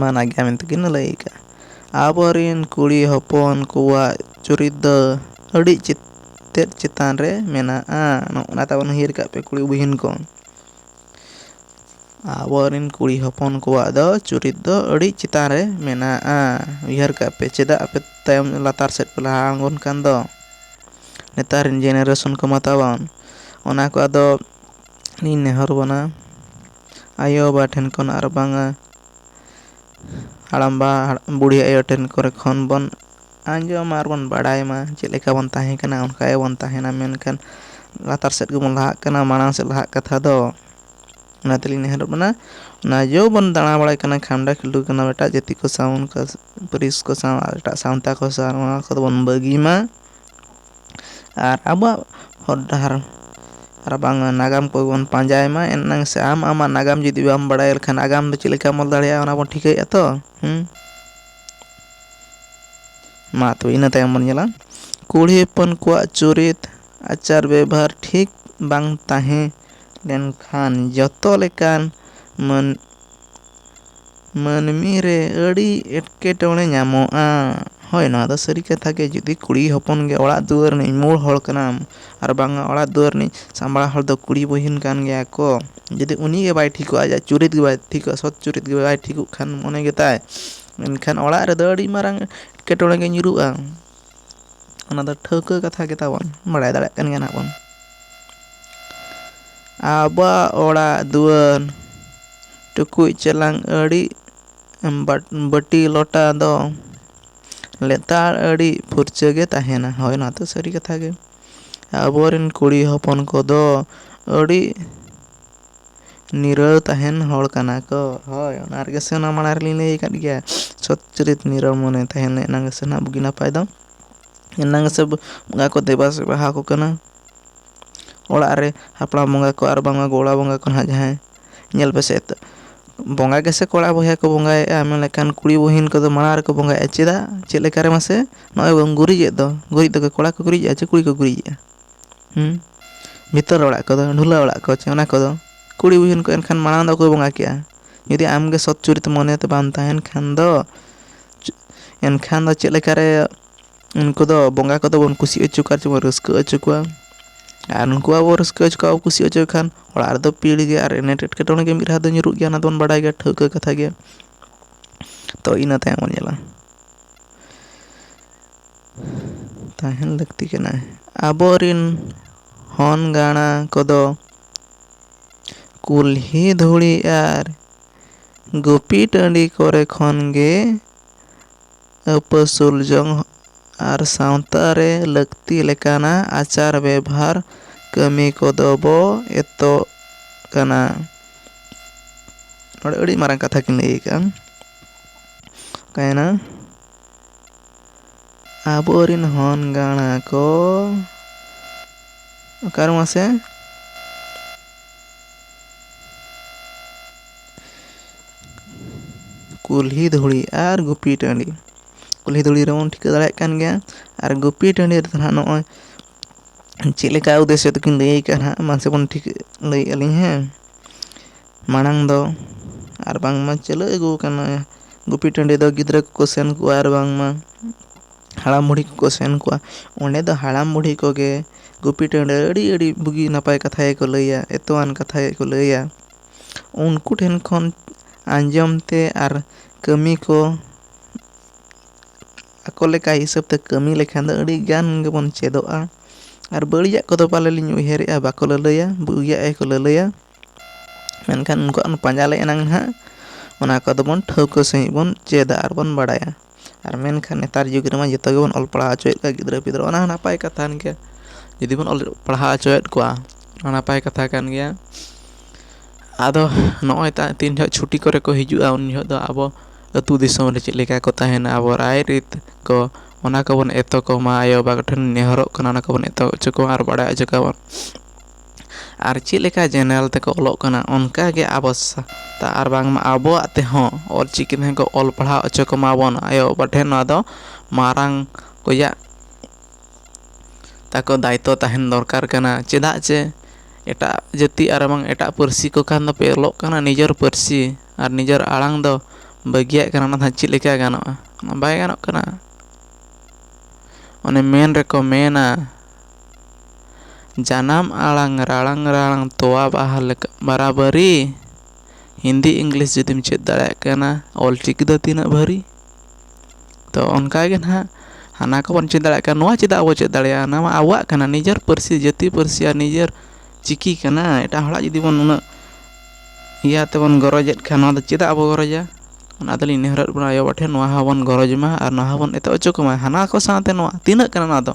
ᱢᱟᱱᱟ ᱜᱮᱭᱟ ᱢᱮᱱᱛᱮ ᱠᱤᱱ ᱞᱟᱹᱭ ᱠᱟᱜᱼᱟ ᱟᱵᱚ ᱨᱮᱱ ᱠᱩᱲᱤ ᱦᱚᱯᱚᱱ ᱠᱚᱣᱟᱜ ᱪᱩᱨᱤᱛ ᱫᱚ ᱟᱹᱰᱤ ᱛᱮᱫ ᱪᱮᱛᱟᱱ ᱨᱮ ᱢᱮᱱᱟᱜᱼᱟ ᱱᱚᱜᱼᱱᱟ ᱛᱟᱵᱚᱱ ᱩᱭᱦᱟᱹᱨ ᱠᱟᱜ ᱯᱮ ᱠᱩᱲᱤ ᱵᱩᱦᱤᱱ ᱠᱚ ᱟᱵᱚ ᱨᱮᱱ ᱠᱩᱲᱤ ᱦᱚᱯᱚᱱ ᱠᱚᱣᱟᱜ ᱫᱚ ᱪᱩᱨᱤᱛ ᱫᱚ ᱟᱹᱰᱤ ᱪᱮᱛᱟᱱ ᱨᱮ ᱢᱮᱱᱟᱜᱼᱟ ᱩᱭᱦᱟᱹᱨ ᱠᱟᱜ ᱯᱮ ᱪᱮᱫᱟᱜ ᱟᱯᱮ ᱛᱟᱭᱚᱢ ᱞᱟᱛᱟᱨ ᱥᱮᱫ ᱯᱮ ᱞᱟᱦᱟ ᱟᱬᱜᱚᱱ ᱠᱟᱱ ᱫᱚ ᱱᱮᱛᱟᱨ ᱨᱮᱱ ᱡᱮᱱᱟᱨᱮᱥᱚᱱ ᱠᱚᱢᱟ ᱛᱟᱵᱚᱱ ᱚᱱᱟ ᱠᱚ ᱟᱫᱚ ᱤᱧ ᱱᱮᱦᱚᱨ ᱵᱚᱱᱟ ᱟᱭᱳᱼᱵᱟᱵᱟ ᱴᱷᱮᱱ ᱠᱷᱚᱱ ᱟᱨ ᱵᱟᱝᱼᱟ ᱦᱟᱲᱟᱢᱵᱟ ᱵᱩᱲᱦᱤ ᱟᱭᱳ ᱴᱷᱮᱱ ᱠᱚᱨᱮ ᱠᱷᱚᱱ ᱵᱚᱱ ᱟᱸᱡᱚᱢᱟ ᱟᱨ ᱵᱚᱱ ᱵᱟᱲᱟᱭ ᱢᱟ ᱪᱮᱫ ᱞᱮᱠᱟ ᱵᱚᱱ ᱛᱟᱦᱮᱸ ᱠᱟᱱᱟ ᱚᱱᱠᱟ ᱜᱮᱵᱚᱱ ᱛᱟᱦᱮᱱᱟ ᱢᱮᱱᱠᱷᱟᱱ ᱞᱟᱛᱟᱨ ᱥᱮᱫ ᱜᱮᱵᱚᱱ ᱞᱟᱦᱟᱜ ᱠᱟᱱᱟ ᱢᱟᱲᱟᱝ ᱥᱮᱫ ᱞᱟᱦᱟᱜ ᱠᱟᱛᱷᱟ ᱫᱚ ᱚᱱᱟ ᱛᱮᱞᱤᱧ ᱱᱮᱦᱚᱨᱚᱜ ᱠᱟᱱᱟ ᱚᱱᱟ ᱡᱚ ᱵᱚᱱ ᱫᱟᱬᱟ ᱵᱟᱲᱟᱭ ᱠᱟᱱᱟ ᱠᱷᱟᱱᱰᱟ ᱠᱷᱤᱸᱰᱩ ᱠᱟᱱᱟ ᱵᱚᱱ ᱮᱴᱟᱜ ᱡᱟᱹᱛᱤ ᱠᱚ ᱥᱟᱶ ᱯᱟᱹᱨᱤᱥ ᱠᱚ ᱥᱟᱶ ᱮᱴᱟᱜ ᱥᱟᱶᱛᱟ ᱠᱚ ᱥᱟᱶ ᱱᱚᱣᱟ ᱠᱚᱫᱚ ᱵᱚᱱ ᱵᱟᱹᱜᱤ ᱢᱟ ᱟᱨ ᱟᱵᱚᱣᱟᱜ ᱦᱚᱨ ᱰᱟᱦᱟᱨ ᱟᱨᱵᱟᱝ ᱱᱟᱜᱟᱢ ᱠᱚᱵᱚᱱ ᱯᱟᱸᱡᱟᱭ ᱢᱟ ᱮᱱᱟᱝ ᱥᱮ ᱟᱢ ᱟᱢᱟᱜ ᱱᱟᱜᱟᱢ ᱡᱩᱫᱤ ᱵᱟᱢ ᱵᱟᱲᱟᱭᱟ ᱮᱱᱠᱷᱟᱱ ᱟᱜᱟᱢ ᱫᱚ ᱪᱮᱫ ᱞᱮᱠᱟᱢ ᱚᱞ ᱫᱟᱲᱮᱭᱟᱜᱼᱟ ᱚᱱᱟ ᱵᱚᱱ ᱴᱷᱤᱠᱟᱹᱭᱮᱫᱼᱟ ᱛᱚ ᱢᱟ ᱛᱚᱵᱮ ᱤᱱᱟᱹ ᱛᱟᱭᱚᱢ ᱵᱚᱱ ᱧᱮᱞᱟ ᱠᱩᱲᱤ ᱦᱚᱯᱚᱱ ᱠᱚᱣᱟᱜ ᱪᱩᱨᱤᱛ ᱟᱪᱟᱨ ᱵᱮᱵᱷᱟᱨ ᱴᱷᱤᱠ ᱵᱟᱝ ᱛᱟᱦᱮᱸ ᱞᱮᱱᱠᱷᱟᱱ ᱡᱚᱛᱚ ᱞᱮᱠᱟᱱ ᱢᱟᱹᱱ ᱢᱟᱹᱱᱢᱤ ᱨᱮ ᱟᱹᱰᱤ ᱮᱴᱠᱮᱴᱚᱬᱮ ᱧᱟᱢᱚᱜᱼᱟ ᱦᱳᱭ ᱱᱚᱣᱟ ᱫᱚ ᱥᱟᱹᱨᱤ ᱠᱟᱛᱷᱟ ᱜᱮ ᱡᱩᱫᱤ ᱠᱩᱲᱤ ᱦᱚᱯᱚᱱ ᱜᱮ ᱚᱲᱟᱜ ᱫᱩᱣᱟᱹᱨ ᱨᱤᱱᱤᱡ ᱢᱩᱬ ᱦᱚᱲ ᱠᱟᱱᱟᱢ ᱟᱨ ᱵᱟᱝᱟ ᱚᱲᱟᱜ ᱫᱩᱣᱟᱹᱨ ᱨᱤᱱᱤᱡ ᱥᱟᱢᱵᱽᱲᱟᱣ ᱦᱚᱲ ᱫᱚ ᱠᱩᱲᱤ ᱵᱩᱦᱤᱱ ᱠᱟᱱ ᱜᱮᱭᱟ ᱠᱚ ᱡᱩᱫᱤ ᱩᱱᱤ ᱜᱮ ᱵᱟᱭ ᱴᱷᱤᱠᱚᱜᱼᱟ ᱟᱡᱟᱜ ᱪᱩᱨᱤᱛ ᱜᱮ ᱵᱟᱭ ᱴᱷᱤᱠᱚᱜᱼᱟ ᱥᱚᱛ ᱪᱩᱨᱤᱛ ᱜᱮ ᱵᱟᱭ ᱴᱷᱤᱠᱚᱜ ᱠᱷᱟᱱ ᱢᱚᱱᱮ ᱜᱮᱛᱟᱭ ᱢᱮᱱᱠᱷᱟᱱ ᱚᱲᱟᱜ ᱨᱮᱫᱚ ᱟᱹᱰᱤ ᱢᱟᱨᱟᱝ ᱮᱴᱠᱮᱴᱚᱬᱮ ᱜᱮ ᱧᱩᱨᱦᱩᱜᱼᱟ ᱚᱱᱟ ᱫᱚ ᱴᱷᱟᱹᱣᱠᱟᱹ ᱠᱟᱛᱷᱟ ᱜᱮ ᱛᱟᱵᱚᱱ ᱵᱟᱲᱟᱭ ᱫᱟᱲᱮᱭᱟᱜ ᱠᱟᱱ ᱜᱮᱭᱟ ᱱᱟᱜ ᱵᱚᱱ ᱟᱵᱚᱣᱟᱜ ᱚᱲᱟᱜ ᱫᱩᱣᱟᱹᱨ ᱴᱩᱠᱩᱡ ᱪᱮᱞᱟᱝ ᱟᱹᱰᱤ ᱵᱟᱹᱴᱤ ᱞᱚᱴᱟ ᱫᱚ ᱞᱮᱛᱟᱲ ᱟᱹᱰᱤ ᱯᱷᱩᱨᱪᱟᱹ ᱜᱮ ᱛᱟᱦᱮᱱᱟ ᱦᱳᱭ ᱚᱱᱟ ᱫᱚ ᱥᱟᱹᱨᱤ ᱠᱟᱛᱷᱟ ᱜᱮ ᱟᱵᱚᱨᱮᱱ ᱠᱩᱲᱤ ᱦᱚᱯᱚᱱ ᱠᱚᱫᱚ ᱟᱹᱰᱤ ᱱᱤᱨᱟᱹᱣ ᱛᱟᱦᱮᱱ ᱦᱚᱲ ᱠᱟᱱᱟ ᱠᱚ᱾ ᱦᱚᱭ ᱚᱱᱟ ᱨᱮᱜᱮ ᱥᱮ ᱚᱱᱟ ᱢᱟᱲᱟᱝ ᱨᱮᱞᱤᱧ ᱞᱟᱹᱭ ᱟᱠᱟᱫ ᱜᱮᱭᱟ ᱥᱚᱛ ᱪᱩᱨᱤᱛ ᱱᱤᱨᱟᱹᱣ ᱢᱚᱱᱮ ᱛᱟᱦᱮᱱ ᱮᱱᱟᱝ ᱜᱮᱥᱮ ᱱᱟᱦᱟᱜ ᱵᱩᱜᱤ ᱱᱟᱯᱟᱭ ᱫᱚ ᱮᱱᱟᱝ ᱜᱮᱥᱮ ᱵᱚᱸᱜᱟ ᱠᱚ ᱫᱮᱵᱟ ᱥᱮᱵᱟ ᱟᱠᱚ ᱠᱟᱱᱟ᱾ ᱚᱲᱟᱜ ᱨᱮ ᱦᱟᱯᱲᱟᱢ ᱵᱚᱸᱜᱟ ᱠᱚ ᱟᱨ ᱵᱟᱝᱢᱟ ᱜᱚᱲᱟ ᱵᱚᱸᱜᱟ ᱠᱚ ᱱᱟᱦᱟᱜ ᱡᱟᱦᱟᱸᱭ ᱧᱮᱞ ᱯᱮᱥᱮ ᱮᱛᱚ ᱵᱚᱸᱜᱟ ᱜᱮᱥᱮ ᱠᱚᱲᱟ ᱵᱚᱭᱦᱟ ᱠᱚ ᱵᱚᱸᱜᱟᱭᱮᱜᱼᱟ ᱢᱮᱱ ᱞᱮᱠᱷᱟᱱ ᱠᱩᱲᱤ ᱵᱩᱦᱤᱱ ᱠᱚᱫᱚ ᱢᱟᱲᱟᱝ ᱨᱮᱠᱚ ᱵᱚᱸᱜᱟᱭᱮᱜᱼᱟ ᱪᱮᱫᱟᱜ ᱪᱮᱫ ᱞᱮᱠᱟᱨᱮ ᱢᱟᱥᱮ ᱱᱚᱜᱼᱚᱭ ᱵᱚᱱ ᱜᱩᱨᱤᱡᱮᱫ ᱫᱚ ᱜᱩᱨᱤᱡ ᱫᱚ ᱠᱚᱲᱟ ᱠᱚ ᱜᱩᱨᱤᱡᱮᱜᱼᱟ ᱪᱮ ᱠᱩᱲᱤ ᱠᱚ ᱜᱩᱨᱤᱡᱮᱜᱼᱟ? ᱦᱮᱸ ᱵᱷᱤᱛᱟᱹᱨ ᱚᱲᱟᱜ ᱠᱚᱫᱚ ᱰᱷᱩᱞᱟᱹ ᱚᱲᱟᱜ ᱠᱚ ᱪᱮ ᱚᱱᱟ ᱠᱚᱫᱚ ᱠᱩᱲᱤ ᱵᱚᱦᱩᱱ ᱠᱚ ᱮᱱᱠᱷᱟᱱ ᱢᱟᱲᱟᱝ ᱫᱚ ᱚᱠᱚᱭ ᱵᱚᱸᱜᱟ ᱠᱮᱜᱼᱟ ᱡᱩᱫᱤ ᱟᱢᱜᱮ ᱥᱚᱛ ᱪᱩᱨᱤᱛ ᱢᱚᱱᱮᱛᱮ ᱵᱟᱢ ᱛᱟᱦᱮᱱ ᱠᱷᱟᱱ ᱫᱚ ᱮᱱᱠᱷᱟᱱ ᱫᱚ ᱪᱮᱫ ᱞᱮᱠᱟᱨᱮ ᱩᱱᱠᱩ ᱫᱚ ᱵᱚᱸᱜᱟ ᱠᱚᱫᱚ ᱵᱚᱱ ᱠᱩᱥᱤ ᱦᱚᱪᱚ ᱠᱚᱣᱟ ᱪᱮ ᱵᱚᱱ ᱨᱟᱹᱥᱠᱟᱹ ᱦᱚᱪᱚ ᱠᱚᱣᱟ ᱟᱨ ᱩᱱᱠᱩ ᱟᱵᱚ ᱨᱟᱹᱥᱠᱟᱹ ᱦᱚᱪᱚ ᱠᱚᱣᱟ ᱠᱩᱥᱤ ᱦᱚᱪᱚ ᱠᱚ ᱠᱷᱟᱱ ᱚᱲᱟᱜ ᱨᱮᱫᱚ ᱯᱤᱲ ᱜᱮ ᱟᱨ ᱮᱱᱮᱴ ᱮᱴᱠᱮᱴᱚᱬᱮ ᱜᱮ ᱢᱤᱫ ᱫᱷᱟᱣ ᱫᱚ ᱧᱩᱨᱩᱜ ᱜᱮᱭᱟ ᱚᱱᱟ ᱫᱚᱵᱚᱱ ᱵᱟᱲᱟᱭ ᱜᱮᱭᱟ ᱴᱷᱟᱹᱣᱠᱟᱹ ᱠᱟᱛᱷᱟ ᱜᱮ ᱛᱚ ᱤᱱᱟᱹ ᱛᱟᱭᱚᱢ ᱵᱚᱱ ᱧᱮᱞᱟ ᱛᱟᱦᱮᱱ ᱞᱟᱹᱠᱛᱤ ᱠᱟᱱᱟ ᱟᱵᱚ ᱨᱤᱱ ᱦᱚᱱ ᱜᱟᱬᱟ ᱠᱚᱫᱚ ᱠᱩᱞᱦᱤ ᱫᱷᱩᱲᱤ ᱟᱨ ᱜᱩᱯᱤ ᱴᱟᱺᱰᱤ ᱠᱚᱨᱮ ᱠᱷᱚᱱ ᱜᱮ ᱟᱹᱯᱟᱹᱥᱩᱞ ᱡᱚᱝ ᱟᱨ ᱥᱟᱶᱛᱟ ᱨᱮ ᱞᱟᱹᱠᱛᱤ ᱞᱮᱠᱟᱱᱟᱜ ᱟᱪᱟᱨ ᱵᱮᱵᱷᱟᱨ ᱠᱟᱹᱢᱤ ᱠᱚᱫᱚ ᱵᱚ ᱮᱛᱚᱜ ᱠᱟᱱᱟ ᱱᱚᱰᱮ ᱟᱹᱰᱤ ᱢᱟᱨᱟᱝ ᱠᱟᱛᱷᱟ ᱠᱤᱱ ᱞᱟᱹᱭ ᱠᱟᱜᱼᱟ ᱚᱠᱟᱭᱮᱱᱟ ᱟᱵᱚᱨᱤᱱ ᱦᱚᱱ ᱜᱟᱬᱟ ᱠᱚ ᱚᱠᱟᱨᱮ ᱢᱟᱥᱮ ᱠᱩᱞᱦᱤ ᱫᱷᱩᱲᱤ ᱟᱨ ᱜᱩᱯᱤ ᱴᱟᱺᱰᱤ ᱠᱩᱞᱦᱤ ᱫᱷᱩᱲᱤ ᱨᱮᱵᱚᱱ ᱴᱷᱤᱠᱟᱹ ᱫᱟᱲᱮᱭᱟᱜ ᱠᱟᱱ ᱜᱮᱭᱟ ᱟᱨ ᱜᱩᱯᱤ ᱴᱟᱺᱰᱤ ᱨᱮᱫᱚ ᱱᱟᱦᱟᱜ ᱱᱚᱜᱼᱚᱭ ᱪᱮᱫ ᱞᱮᱠᱟ ᱩᱫᱽᱫᱮᱥᱥᱚ ᱛᱮᱠᱤᱱ ᱞᱟᱹᱭ ᱠᱟᱜᱼᱟ ᱱᱟᱦᱟᱜ ᱢᱟᱥᱮ ᱵᱚᱱ ᱴᱷᱤᱠᱟᱹ ᱞᱟᱹᱭᱮᱫᱼᱟ ᱞᱤᱧ ᱦᱮᱸ ᱢᱟᱲᱟᱝ ᱫᱚ ᱟᱨ ᱵᱟᱝᱢᱟ ᱪᱟᱹᱞᱩ ᱟᱹᱜᱩ ᱟᱠᱟᱱᱟ ᱜᱩᱯᱤ ᱴᱟᱺᱰᱤ ᱫᱚ ᱜᱤᱫᱽᱨᱟᱹ ᱠᱚᱠᱚ ᱥᱮᱱ ᱠᱚᱜᱼᱟ ᱟᱨ ᱵᱟᱝᱢᱟ ᱦᱟᱲᱟᱢ ᱵᱩᱲᱦᱤ ᱠᱚᱠᱚ ᱥᱮᱱ ᱠᱚᱜᱼᱟ ᱚᱸᱰᱮ ᱫᱚ ᱦᱟᱲᱟᱢ ᱵᱩᱲᱦᱤ ᱠᱚᱜᱮ ᱜᱩᱯᱤ ᱴᱟᱺᱰᱤ ᱨᱮ ᱟᱹᱰᱤ ᱟᱹᱰᱤ ᱵᱩᱜᱤ ᱱᱟᱯᱟᱭ ᱠᱟᱛᱷᱟ ᱜᱮᱠᱚ ᱞᱟᱹᱭᱟ ᱮᱛᱚᱢᱟᱱ ᱠᱟᱛᱷᱟ ᱜᱮᱠᱚ ᱞᱟᱹᱭᱟ ᱩᱱᱠᱩ ᱴᱷᱮᱱ ᱠᱷᱚᱱ ᱟᱸᱡᱚᱢ ᱛᱮ ᱟᱨ ᱠᱟᱹᱢᱤ ᱠᱚ ᱟᱠᱚ ᱞᱮᱠᱟ ᱦᱤᱥᱟᱹᱵ ᱛᱮ ᱠᱟᱹᱢᱤ ᱞᱮᱠᱷᱟᱱ ᱫᱚ ᱟᱹᱰᱤ ᱜᱟᱱ ᱜᱮᱵᱚᱱ ᱪᱮᱫᱚᱜᱼᱟ ᱟᱨ ᱵᱟᱹᱲᱤᱡᱟᱜ ᱠᱚᱫᱚ ᱯᱟᱞᱮ ᱞᱤᱧ ᱩᱭᱦᱟᱹᱨᱮᱜᱼᱟ ᱵᱟᱠᱚ ᱞᱟᱹᱞᱟᱹᱭᱟ ᱵᱩᱜᱤᱭᱟᱜ ᱜᱮᱠᱚ ᱞᱟᱹᱞᱟᱹᱭᱟ ᱢᱮᱱᱠᱷᱟᱱ ᱩᱱᱠᱩᱣᱟᱜ ᱚᱱᱟ ᱯᱟᱸᱡᱟ ᱞᱮ ᱮᱱᱟᱝ ᱦᱟᱸᱜ ᱚᱱᱟ ᱠᱚᱫᱚ ᱵᱚᱱ ᱴᱷᱟᱹᱣᱠᱟᱹ ᱥᱟᱺᱦᱤᱡ ᱵᱚᱱ ᱪᱮᱫᱟ ᱟᱨ ᱵᱚᱱ ᱵᱟᱲᱟᱭᱟ ᱟᱨ ᱢᱮᱱᱠᱷᱟᱱ ᱱᱮᱛᱟᱨ ᱡᱩᱜᱽ ᱨᱮᱢᱟ ᱡᱚᱛᱚ ᱜᱮᱵᱚᱱ ᱚᱞ ᱯᱟᱲᱦᱟᱣ ᱦᱚᱪᱚᱭᱮᱫ ᱠᱚᱣᱟ ᱜᱤᱫᱽᱨᱟᱹ ᱯᱤᱫᱽᱨᱟᱹ ᱚᱱᱟ ᱦᱚᱸ ᱱᱟᱯᱟᱭ ᱠᱟᱛᱷᱟ ᱠᱟᱱ ᱜᱮᱭᱟ ᱡᱩᱫᱤ ᱵᱚᱱ ᱚᱞ ᱯᱟᱲᱦᱟᱣ ᱦᱚᱪᱚᱭᱮᱫ ᱠᱚᱣᱟ ᱚᱱᱟ ᱱᱟᱯᱟᱭ ᱠᱟᱛᱷᱟ ᱠᱟᱱ ᱜᱮᱭᱟ ᱟᱫᱚ ᱱᱚᱜᱼᱚᱭ ᱛᱚ ᱛᱤᱱ ᱡᱚᱦᱚᱜ ᱪᱷᱩᱴᱤ ᱠᱚᱨᱮ ᱠᱚ ᱦᱤᱡᱩᱜᱼᱟ ᱩᱱ ᱡᱚᱦᱚᱜ ᱫᱚ ᱟᱵᱚ ᱟᱹᱛᱩ ᱫᱤᱥᱚᱢ ᱨᱮ ᱪᱮᱫ ᱞᱮᱠᱟ ᱠᱚ ᱛᱟᱦᱮᱱᱟ ᱟᱵᱚ ᱨᱟᱭᱨᱤᱛ ᱠᱚ ᱚᱱᱟ ᱠᱚᱵᱚᱱ ᱮᱛᱚᱢ ᱠᱚᱢᱟ ᱟᱭᱳᱼᱵᱟᱵᱟ ᱠᱚᱴᱷᱮᱱ ᱱᱮᱦᱚᱨᱚᱜ ᱠᱟᱱᱟ ᱚᱱᱟ ᱠᱚᱵᱚᱱ ᱮᱛᱚᱢ ᱦᱚᱪᱚ ᱠᱚᱢᱟ ᱟᱨ ᱵᱟᱲᱟᱭ ᱦᱚᱪᱚ ᱠᱚᱢᱟ ᱟᱨ ᱪᱮᱫ ᱞᱮᱠᱟ ᱡᱮᱱᱟᱨᱮᱞ ᱛᱮᱠᱚ ᱚᱞᱚᱜ ᱠᱟᱱᱟ ᱚᱱᱠᱟ ᱜᱮ ᱟᱵᱚ ᱥᱟᱶᱛᱟ ᱟᱨ ᱵᱟᱝᱢᱟ ᱟᱵᱚᱣᱟᱜ ᱛᱮᱦᱚᱸ ᱚᱞ ᱪᱤᱠᱤ ᱛᱮᱦᱚᱸ ᱠᱚ ᱚᱞ ᱯᱟᱲᱦᱟᱣ ᱦᱚᱪᱚ ᱠᱚᱢᱟ ᱵᱚᱱ ᱟᱭᱳᱼᱵᱟᱵᱟ ᱴᱷᱮᱱ ᱱᱚᱣᱟ ᱫᱚ ᱢᱟᱨᱟᱝ ᱠᱚᱭᱟᱜ ᱛᱟᱠᱚ ᱫᱟᱭᱤᱛᱛᱚ ᱛᱟᱦᱮᱱ ᱫᱚᱨᱠᱟᱨ ᱠᱟᱱᱟ ᱪᱮᱫᱟᱜ ᱪᱮ ᱮᱴᱟᱜ ᱡᱟᱹᱛᱤ ᱟᱨ ᱵᱟᱝ ᱮᱴᱟᱜ ᱯᱟᱹᱨᱥᱤ ᱠᱚ ᱠᱷᱟᱱ ᱫᱚᱯᱮ ᱚᱞᱚᱜ ᱠᱟᱱᱟ ᱱᱤᱡᱮᱨ ᱯᱟᱹᱨᱥᱤ ᱟᱨ ᱱᱤᱡᱮᱨ ᱟᱲᱟᱝ ᱫᱚ ᱵᱟᱹᱜᱤᱭᱟᱜ ᱠᱟᱱᱟ ᱚᱱᱟ ᱫᱚ ᱦᱟᱸᱜ ᱪᱮᱫ ᱞᱮᱠᱟ ᱜᱟᱱᱚᱜᱼᱟ ᱵᱟᱭ ᱜᱟᱱᱚᱜ ᱠᱟᱱᱟ ᱚᱱᱮ ᱢᱮᱱ ᱨᱮᱠᱚ ᱢᱮᱱᱟ ᱡᱟᱱᱟᱢ ᱟᱲᱟᱝ ᱨᱟᱲᱟᱝ ᱨᱟᱲᱟᱝ ᱛᱚᱣᱟ ᱵᱟᱦᱟ ᱞᱮᱠᱟ ᱵᱟᱨᱟᱵᱟᱹᱨᱤ ᱦᱤᱱᱫᱤ ᱤᱝᱞᱤᱥ ᱡᱩᱫᱤᱢ ᱪᱮᱫ ᱫᱟᱲᱮᱭᱟᱜ ᱠᱟᱱᱟ ᱚᱞ ᱪᱤᱠᱤ ᱫᱚ ᱛᱤᱱᱟᱹᱜ ᱵᱷᱟᱹᱨᱤ ᱛᱚ ᱚᱱᱠᱟ ᱜᱮ ᱱᱟᱦᱟᱜ ᱦᱟᱱᱟ ᱠᱚᱵᱚᱱ ᱪᱮᱫ ᱫᱟᱲᱮᱭᱟᱜ ᱠᱟᱱᱟ ᱱᱚᱣᱟ ᱪᱮᱫᱟᱜ ᱵᱚᱱ ᱪᱮᱫ ᱫᱟᱲᱮᱭᱟᱜᱼᱟ ᱚᱱᱟ ᱢᱟ ᱟᱵᱚᱣᱟᱜ ᱠᱟᱱᱟ ᱱᱤᱡᱮᱨ ᱯᱟᱹᱨᱥᱤ ᱡᱟᱹᱛᱤ ᱯᱟᱹᱨᱥᱤ ᱟᱨ ᱱᱤᱡᱮᱨ ᱪᱤᱠᱤ ᱠᱟᱱᱟ ᱮᱴᱟᱜ ᱦᱚᱲᱟᱜ ᱡᱩᱫᱤ ᱵᱚᱱ ᱩᱱᱟᱹᱜ ᱤᱭᱟᱹ ᱛᱮᱵᱚᱱ ᱜᱚᱨᱚᱡᱮᱫ ᱠᱷᱟᱱ ᱱᱚᱣᱟ ᱫᱚ ᱪᱮᱫᱟᱜ ᱵᱚᱱ ᱜᱚᱨᱚᱡᱟ ᱚᱱᱟ ᱫᱚᱞᱤᱧ ᱱᱮᱦᱚᱨᱚᱜ ᱠᱟᱱᱟ ᱟᱭᱳᱼᱵᱟᱵᱟ ᱴᱷᱮᱱ ᱱᱚᱣᱟ ᱦᱚᱸᱵᱚᱱ ᱜᱚᱨᱚᱡᱽ ᱢᱟ ᱟᱨ ᱱᱚᱣᱟ ᱦᱚᱸᱵᱚᱱ ᱮᱛᱚᱦᱚᱵ ᱦᱚᱪᱚ ᱠᱚᱢᱟ ᱦᱟᱱᱟ ᱠᱚ ᱥᱟᱶᱛᱮ ᱱᱚᱣᱟ ᱛᱤᱱᱟᱹᱜ ᱠᱟᱱᱟ ᱱᱚᱣᱟ ᱫᱚ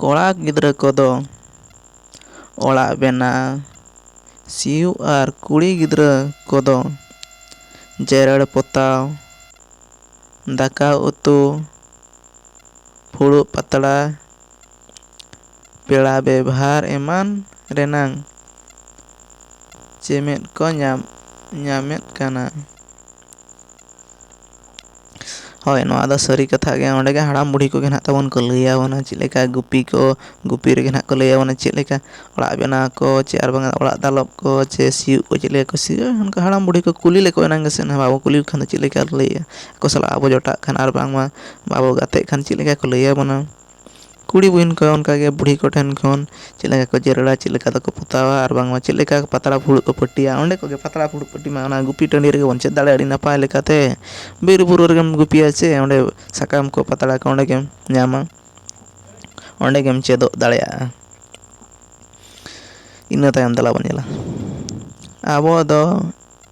ᱠᱚᱲᱟ ᱜᱤᱫᱽᱨᱟᱹ ᱠᱚᱫᱚ ᱚᱲᱟᱜ ᱵᱮᱱᱟᱣ ᱥᱤᱭᱳᱜ ᱟᱨ ᱠᱩᱲᱤ ᱜᱤᱫᱽᱨᱟᱹ ᱠᱚᱫᱚ ᱡᱮᱨᱮᱲ ᱯᱚᱛᱟᱣ ᱫᱟᱠᱟ ᱩᱛᱩ ᱯᱷᱩᱲᱩᱜ ᱯᱟᱛᱲᱟ ᱯᱮᱲᱟ ᱵᱮᱵᱷᱟᱨ ᱮᱢᱟᱱ ᱨᱮᱱᱟᱝ ᱪᱮᱢᱮᱫ ᱠᱚ ᱧᱟᱢ ᱧᱟᱢᱮᱫ ᱠᱟᱱᱟ ᱦᱳᱭ ᱱᱚᱣᱟ ᱫᱚ ᱥᱟᱹᱨᱤ ᱠᱟᱛᱷᱟ ᱜᱮ ᱚᱸᱰᱮ ᱜᱮ ᱦᱟᱲᱟᱢ ᱵᱩᱲᱦᱤ ᱠᱚᱜᱮ ᱱᱟᱦᱟᱜ ᱛᱟᱵᱚᱱ ᱠᱚ ᱞᱟᱹᱭ ᱟᱵᱚᱱᱟ ᱪᱮᱫ ᱞᱮᱠᱟ ᱜᱩᱯᱤ ᱠᱚ ᱜᱩᱯᱤ ᱨᱮᱜᱮ ᱱᱟᱦᱟᱜ ᱠᱚ ᱞᱟᱹᱭ ᱟᱵᱚᱱᱟ ᱪᱮᱫ ᱞᱮᱠᱟ ᱚᱲᱟᱜ ᱵᱮᱱᱟᱣ ᱠᱚ ᱪᱮ ᱟᱨ ᱵᱟᱝᱟ ᱚᱲᱟᱜ ᱫᱟᱞᱚᱵ ᱠᱚ ᱪᱮ ᱥᱤᱭᱳᱜ ᱠᱚ ᱪᱮᱫ ᱞᱮᱠᱟ ᱠᱚ ᱥᱤᱭᱟ ᱚᱱᱠᱟ ᱦᱟᱲᱟᱢ ᱵᱩᱲᱦᱤ ᱠᱚ ᱠᱩᱞᱤ ᱞᱮᱠᱚ ᱮᱱᱟᱝ ᱜᱮᱥᱮ ᱱᱟᱦᱟᱜ ᱵᱟᱵᱚ ᱠᱩᱞᱤ ᱞᱮᱠᱷᱟᱱ ᱫᱚ ᱪᱮᱫ ᱞᱮᱠᱟ ᱞᱟᱹᱭᱮᱜᱼᱟ ᱟᱠᱚ ᱥᱟᱞᱟᱜ ᱟᱵᱚ ᱡᱚᱴᱟᱜ ᱠᱷᱟᱱ ᱟᱨ ᱵᱟᱝᱢᱟ ᱵᱟᱵᱚ ᱜᱟᱛᱮᱜ ᱠᱷᱟᱱ ᱪᱮᱫ ᱞᱮᱠᱟ ᱠᱚ ᱞᱟᱹᱭ ᱟᱵᱚᱱᱟ ᱠᱩᱲᱤ ᱵᱩᱦᱤᱱ ᱠᱚ ᱚᱱᱠᱟ ᱜᱮ ᱵᱩᱲᱦᱤ ᱠᱚ ᱴᱷᱮᱱ ᱠᱷᱚᱱ ᱪᱮᱫ ᱞᱮᱠᱟ ᱠᱚ ᱡᱮᱨᱮᱲᱟ ᱪᱮᱫ ᱞᱮᱠᱟ ᱛᱮᱠᱚ ᱯᱚᱛᱟᱣᱟ ᱟᱨ ᱵᱟᱝᱢᱟ ᱪᱮᱫ ᱞᱮᱠᱟ ᱯᱟᱛᱲᱟ ᱯᱷᱩᱲᱩᱜ ᱠᱚ ᱯᱟᱹᱴᱤᱭᱟ ᱚᱸᱰᱮ ᱠᱷᱚᱱ ᱜᱮ ᱯᱟᱛᱲᱟ ᱯᱷᱩᱲᱩᱜ ᱯᱟᱹᱴᱤ ᱢᱟ ᱚᱱᱟ ᱜᱩᱯᱤ ᱴᱟᱺᱰᱤ ᱨᱮᱜᱮ ᱵᱚᱱ ᱪᱮᱫ ᱫᱟᱲᱮᱭᱟᱜᱼᱟ ᱟᱹᱰᱤ ᱱᱟᱯᱟᱭ ᱞᱮᱠᱟᱛᱮ ᱵᱤᱨᱼᱵᱩᱨᱩ ᱨᱮᱜᱮᱢ ᱜᱩᱯᱤᱭᱟ ᱥᱮ ᱚᱸᱰᱮ ᱥᱟᱠᱟᱢ ᱠᱚ ᱯᱟᱛᱲᱟ ᱠᱚ ᱚᱸᱰᱮ ᱜᱮᱢ ᱧᱟᱢᱟ ᱚᱸᱰᱮ ᱜᱮᱢ ᱪᱮᱫᱚᱜ ᱫᱟᱲᱮᱭᱟᱜᱼᱟ ᱤᱱᱟᱹ ᱛᱟᱭᱚᱢ ᱫᱮᱞᱟ ᱵᱚᱱ ᱧᱮᱞᱟ ᱟᱵᱚ ᱫᱚ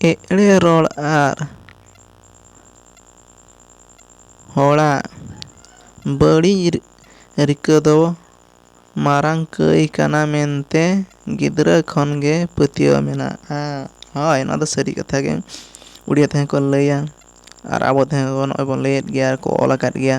ᱮᱲᱮ ᱨᱚᱲ ᱟᱨ ᱦᱚᱲᱟᱜ ᱵᱟᱹᱲᱤᱡ ᱨᱤᱠᱟᱹ ᱫᱚ ᱢᱟᱨᱟᱝ ᱠᱟᱹᱭ ᱠᱟᱱᱟ ᱢᱮᱱᱛᱮ ᱜᱤᱫᱽᱨᱟᱹ ᱠᱷᱚᱱ ᱜᱮ ᱯᱟᱹᱛᱭᱟᱹᱣ ᱢᱮᱱᱟᱜᱼᱟ ᱦᱳᱭ ᱱᱚᱣᱟ ᱫᱚ ᱥᱟᱹᱨᱤ ᱠᱟᱛᱷᱟ ᱜᱮ ᱩᱲᱤᱭᱟ ᱛᱮᱦᱚᱸ ᱠᱚ ᱞᱟᱹᱭᱟ ᱟᱨ ᱟᱵᱚ ᱛᱮᱦᱚᱸ ᱱᱚᱜᱼᱚᱭ ᱵᱚᱱ ᱞᱟᱹᱭᱮᱫ ᱜᱮᱭᱟ ᱟᱨ ᱠᱚ ᱚᱞ ᱟᱠᱟᱫ ᱜᱮᱭᱟ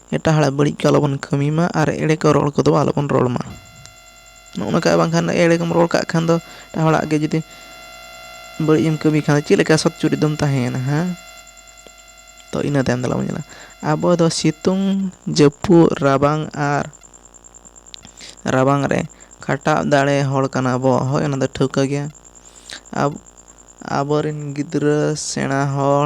ᱮᱴᱟᱜ ᱦᱚᱲᱟᱜ ᱵᱟᱹᱲᱤᱡ ᱠᱚ ᱟᱞᱚᱵᱚᱱ ᱠᱟᱹᱢᱤ ᱢᱟ ᱟᱨ ᱮᱲᱮ ᱠᱚ ᱨᱚᱲ ᱠᱚᱫᱚ ᱟᱞᱚᱵᱚᱱ ᱨᱚᱲ ᱢᱟ ᱱᱚᱜᱼᱚ ᱱᱚᱝᱠᱟ ᱵᱟᱝᱠᱷᱟᱱ ᱮᱲᱮ ᱠᱚᱢ ᱨᱚᱲ ᱠᱟᱜ ᱠᱷᱟᱱ ᱫᱚ ᱮᱴᱟᱜ ᱦᱚᱲᱟᱜ ᱜᱮ ᱡᱩᱫᱤ ᱵᱟᱹᱲᱤᱡ ᱮᱢ ᱠᱟᱹᱢᱤ ᱠᱷᱟᱱ ᱪᱮᱫ ᱞᱮᱠᱟ ᱥᱚᱛ ᱪᱩᱨᱤᱛ ᱫᱚᱢ ᱛᱟᱦᱮᱸᱭᱮᱱᱟ ᱦᱮᱸ ᱛᱚ ᱤᱱᱟᱹ ᱛᱟᱭᱚᱢ ᱫᱮᱞᱟ ᱵᱚᱱ ᱧᱮᱞᱟ ᱟᱵᱚ ᱫᱚ ᱥᱤᱛᱩᱝ ᱡᱟᱹᱯᱩᱫ ᱨᱟᱵᱟᱝ ᱟᱨ ᱨᱟᱵᱟᱝ ᱨᱮ ᱠᱷᱟᱴᱟᱜ ᱫᱟᱲᱮ ᱦᱚᱲ ᱠᱟᱱᱟ ᱵᱚᱱ ᱦᱳᱭ ᱚᱱᱟ ᱫᱚ ᱴᱷᱟᱹᱣᱠᱟᱹ ᱜᱮᱭᱟ ᱟᱵᱚ ᱟᱵᱚ ᱨᱮᱱ ᱜᱤᱫᱽᱨᱟᱹ ᱥᱮᱬᱟ ᱦᱚᱲ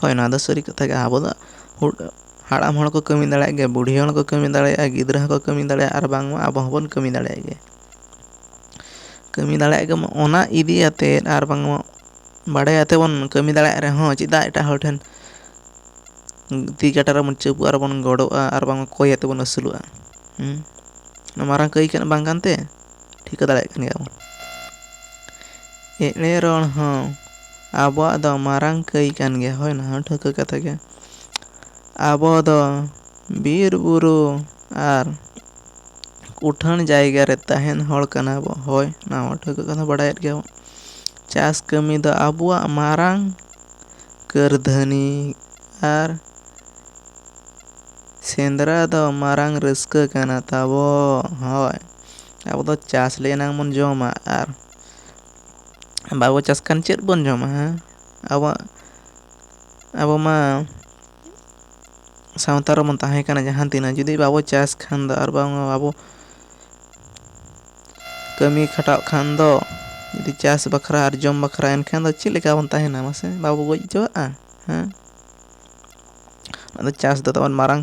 ᱦᱳᱭ ᱱᱚᱣᱟ ᱫᱚ ᱥᱟᱹᱨᱤ ᱠᱟᱛᱷᱟ ᱜᱮ ᱟᱵᱚ ᱫᱚ ᱦᱟᱲᱟᱢ ᱦᱚᱲ ᱠᱚ ᱠᱟᱹᱢᱤ ᱫᱟᱲᱮᱭᱟᱜ ᱜᱮᱭᱟ ᱵᱩᱰᱷᱤ ᱦᱚᱲ ᱦᱚᱸᱠᱚ ᱠᱟᱹᱢᱤ ᱫᱟᱲᱮᱭᱟᱜᱼᱟ ᱜᱤᱫᱽᱨᱟᱹ ᱦᱚᱸᱠᱚ ᱠᱟᱹᱢᱤ ᱫᱟᱲᱮᱭᱟᱜᱼᱟ ᱟᱨ ᱵᱟᱝᱢᱟ ᱟᱵᱚ ᱦᱚᱸᱵᱚᱱ ᱠᱟᱹᱢᱤ ᱫᱟᱲᱮᱭᱟᱜ ᱜᱮᱭᱟ ᱠᱟᱹᱢᱤ ᱫᱟᱲᱮᱭᱟᱜ ᱜᱮ ᱚᱱᱟ ᱤᱫᱤ ᱠᱟᱛᱮᱫ ᱟᱨ ᱵᱟᱝᱢᱟ ᱵᱟᱲᱟᱭ ᱠᱟᱛᱮᱫ ᱵᱚᱱ ᱠᱟᱹᱢᱤ ᱫᱟᱲᱮᱭᱟᱜ ᱨᱮᱦᱚᱸ ᱪᱮᱫᱟᱜ ᱮᱴᱟᱜ ᱦᱚᱲ ᱴᱷᱮᱱ ᱛᱤ ᱠᱟᱴᱟ ᱨᱮᱵᱚᱱ ᱪᱟᱯᱚᱜᱼᱟ ᱟᱨᱵᱚᱱ ᱜᱚᱰᱚᱜᱼᱟ ᱟᱨ ᱵᱟᱝ ᱠᱚᱭ ᱠᱟᱛᱮᱫ ᱵᱚᱱ ᱟᱹᱥᱩᱞᱚᱜᱼᱟ ᱦᱮᱸ ᱢᱟᱨᱟᱝ ᱠᱟᱹᱢᱤ ᱵᱟᱝ ᱠᱟᱱᱛᱮ ᱴᱷᱤᱠᱟᱹ ᱫᱟᱲᱮᱭᱟᱜ ᱠᱟᱱ ᱜᱮᱭᱟ ᱵᱚᱱ ᱮᱲᱮ ᱨᱚᱲ ᱦᱚᱸ ᱟᱵᱚᱣᱟᱜ ᱫᱚ ᱢᱟᱨᱟᱝ ᱠᱟᱹᱭ ᱠᱟᱱ ᱜᱮᱭᱟ ᱦᱳᱭ ᱚᱱᱟ ᱦᱚᱸ ᱴᱷᱟᱹᱣᱠᱟᱹ ᱠᱟᱛᱷᱟ ᱜᱮ ᱟᱵᱚ ᱫᱚ ᱵᱤᱨ ᱵᱩᱨᱩ ᱟᱨ ᱩᱴᱷᱟᱹᱱ ᱡᱟᱭᱜᱟ ᱨᱮ ᱛᱟᱦᱮᱱ ᱦᱚᱲ ᱠᱟᱱᱟ ᱵᱚ ᱦᱳᱭ ᱚᱱᱟ ᱦᱚᱸ ᱴᱷᱟᱹᱣᱠᱟᱹ ᱠᱟᱛᱷᱟ ᱵᱟᱰᱟᱭᱮᱫ ᱜᱮᱭᱟ ᱵᱚᱱ ᱪᱟᱥ ᱠᱟᱹᱢᱤ ᱫᱚ ᱟᱵᱚᱣᱟᱜ ᱢᱟᱨᱟᱝ ᱠᱟᱹᱨᱫᱷᱟᱹᱱᱤ ᱟᱨ ᱥᱮᱸᱫᱽᱨᱟ ᱫᱚ ᱢᱟᱨᱟᱝ ᱨᱟᱹᱥᱠᱟᱹ ᱠᱟᱱᱟ ᱛᱟᱵᱚ ᱦᱳᱭ ᱟᱵᱚ ᱫᱚ ᱪᱟᱥ ᱞᱮ ᱮᱱᱟᱝ ᱵᱚᱱ ᱡᱚᱢᱟ ᱟᱨ ᱵᱟᱵᱚ ᱪᱟᱥ ᱠᱷᱟᱱ ᱪᱮᱫ ᱵᱚᱱ ᱡᱚᱢᱟ ᱦᱮᱸ ᱟᱵᱚᱣᱟᱜ ᱟᱵᱚ ᱢᱟ ᱥᱟᱶᱛᱟ ᱨᱮᱵᱚᱱ ᱛᱟᱦᱮᱸ ᱠᱟᱱᱟ ᱡᱟᱦᱟᱸ ᱛᱤᱱᱟᱹᱜ ᱡᱩᱫᱤ ᱵᱟᱵᱚ ᱪᱟᱥ ᱠᱷᱟᱱ ᱫᱚ ᱟᱨ ᱵᱟᱝ ᱟᱵᱚ ᱠᱟᱹᱢᱤ ᱠᱷᱟᱴᱟᱜ ᱠᱷᱟᱱ ᱫᱚ ᱡᱩᱫᱤ ᱪᱟᱥ ᱵᱟᱠᱷᱨᱟ ᱟᱨ ᱡᱚᱢ ᱵᱟᱠᱷᱨᱟ ᱮᱱᱠᱷᱟᱱ ᱫᱚ ᱪᱮᱫ ᱞᱮᱠᱟ ᱵᱚᱱ ᱛᱟᱦᱮᱱᱟ ᱢᱟᱥᱮ ᱵᱟᱵᱚ ᱜᱚᱡ ᱦᱚᱪᱚᱣᱟᱜᱼᱟ ᱦᱮᱸ ᱟᱫᱚ ᱪᱟᱥ ᱫᱚ ᱛᱟᱵᱚᱱ ᱢᱟᱨᱟᱝ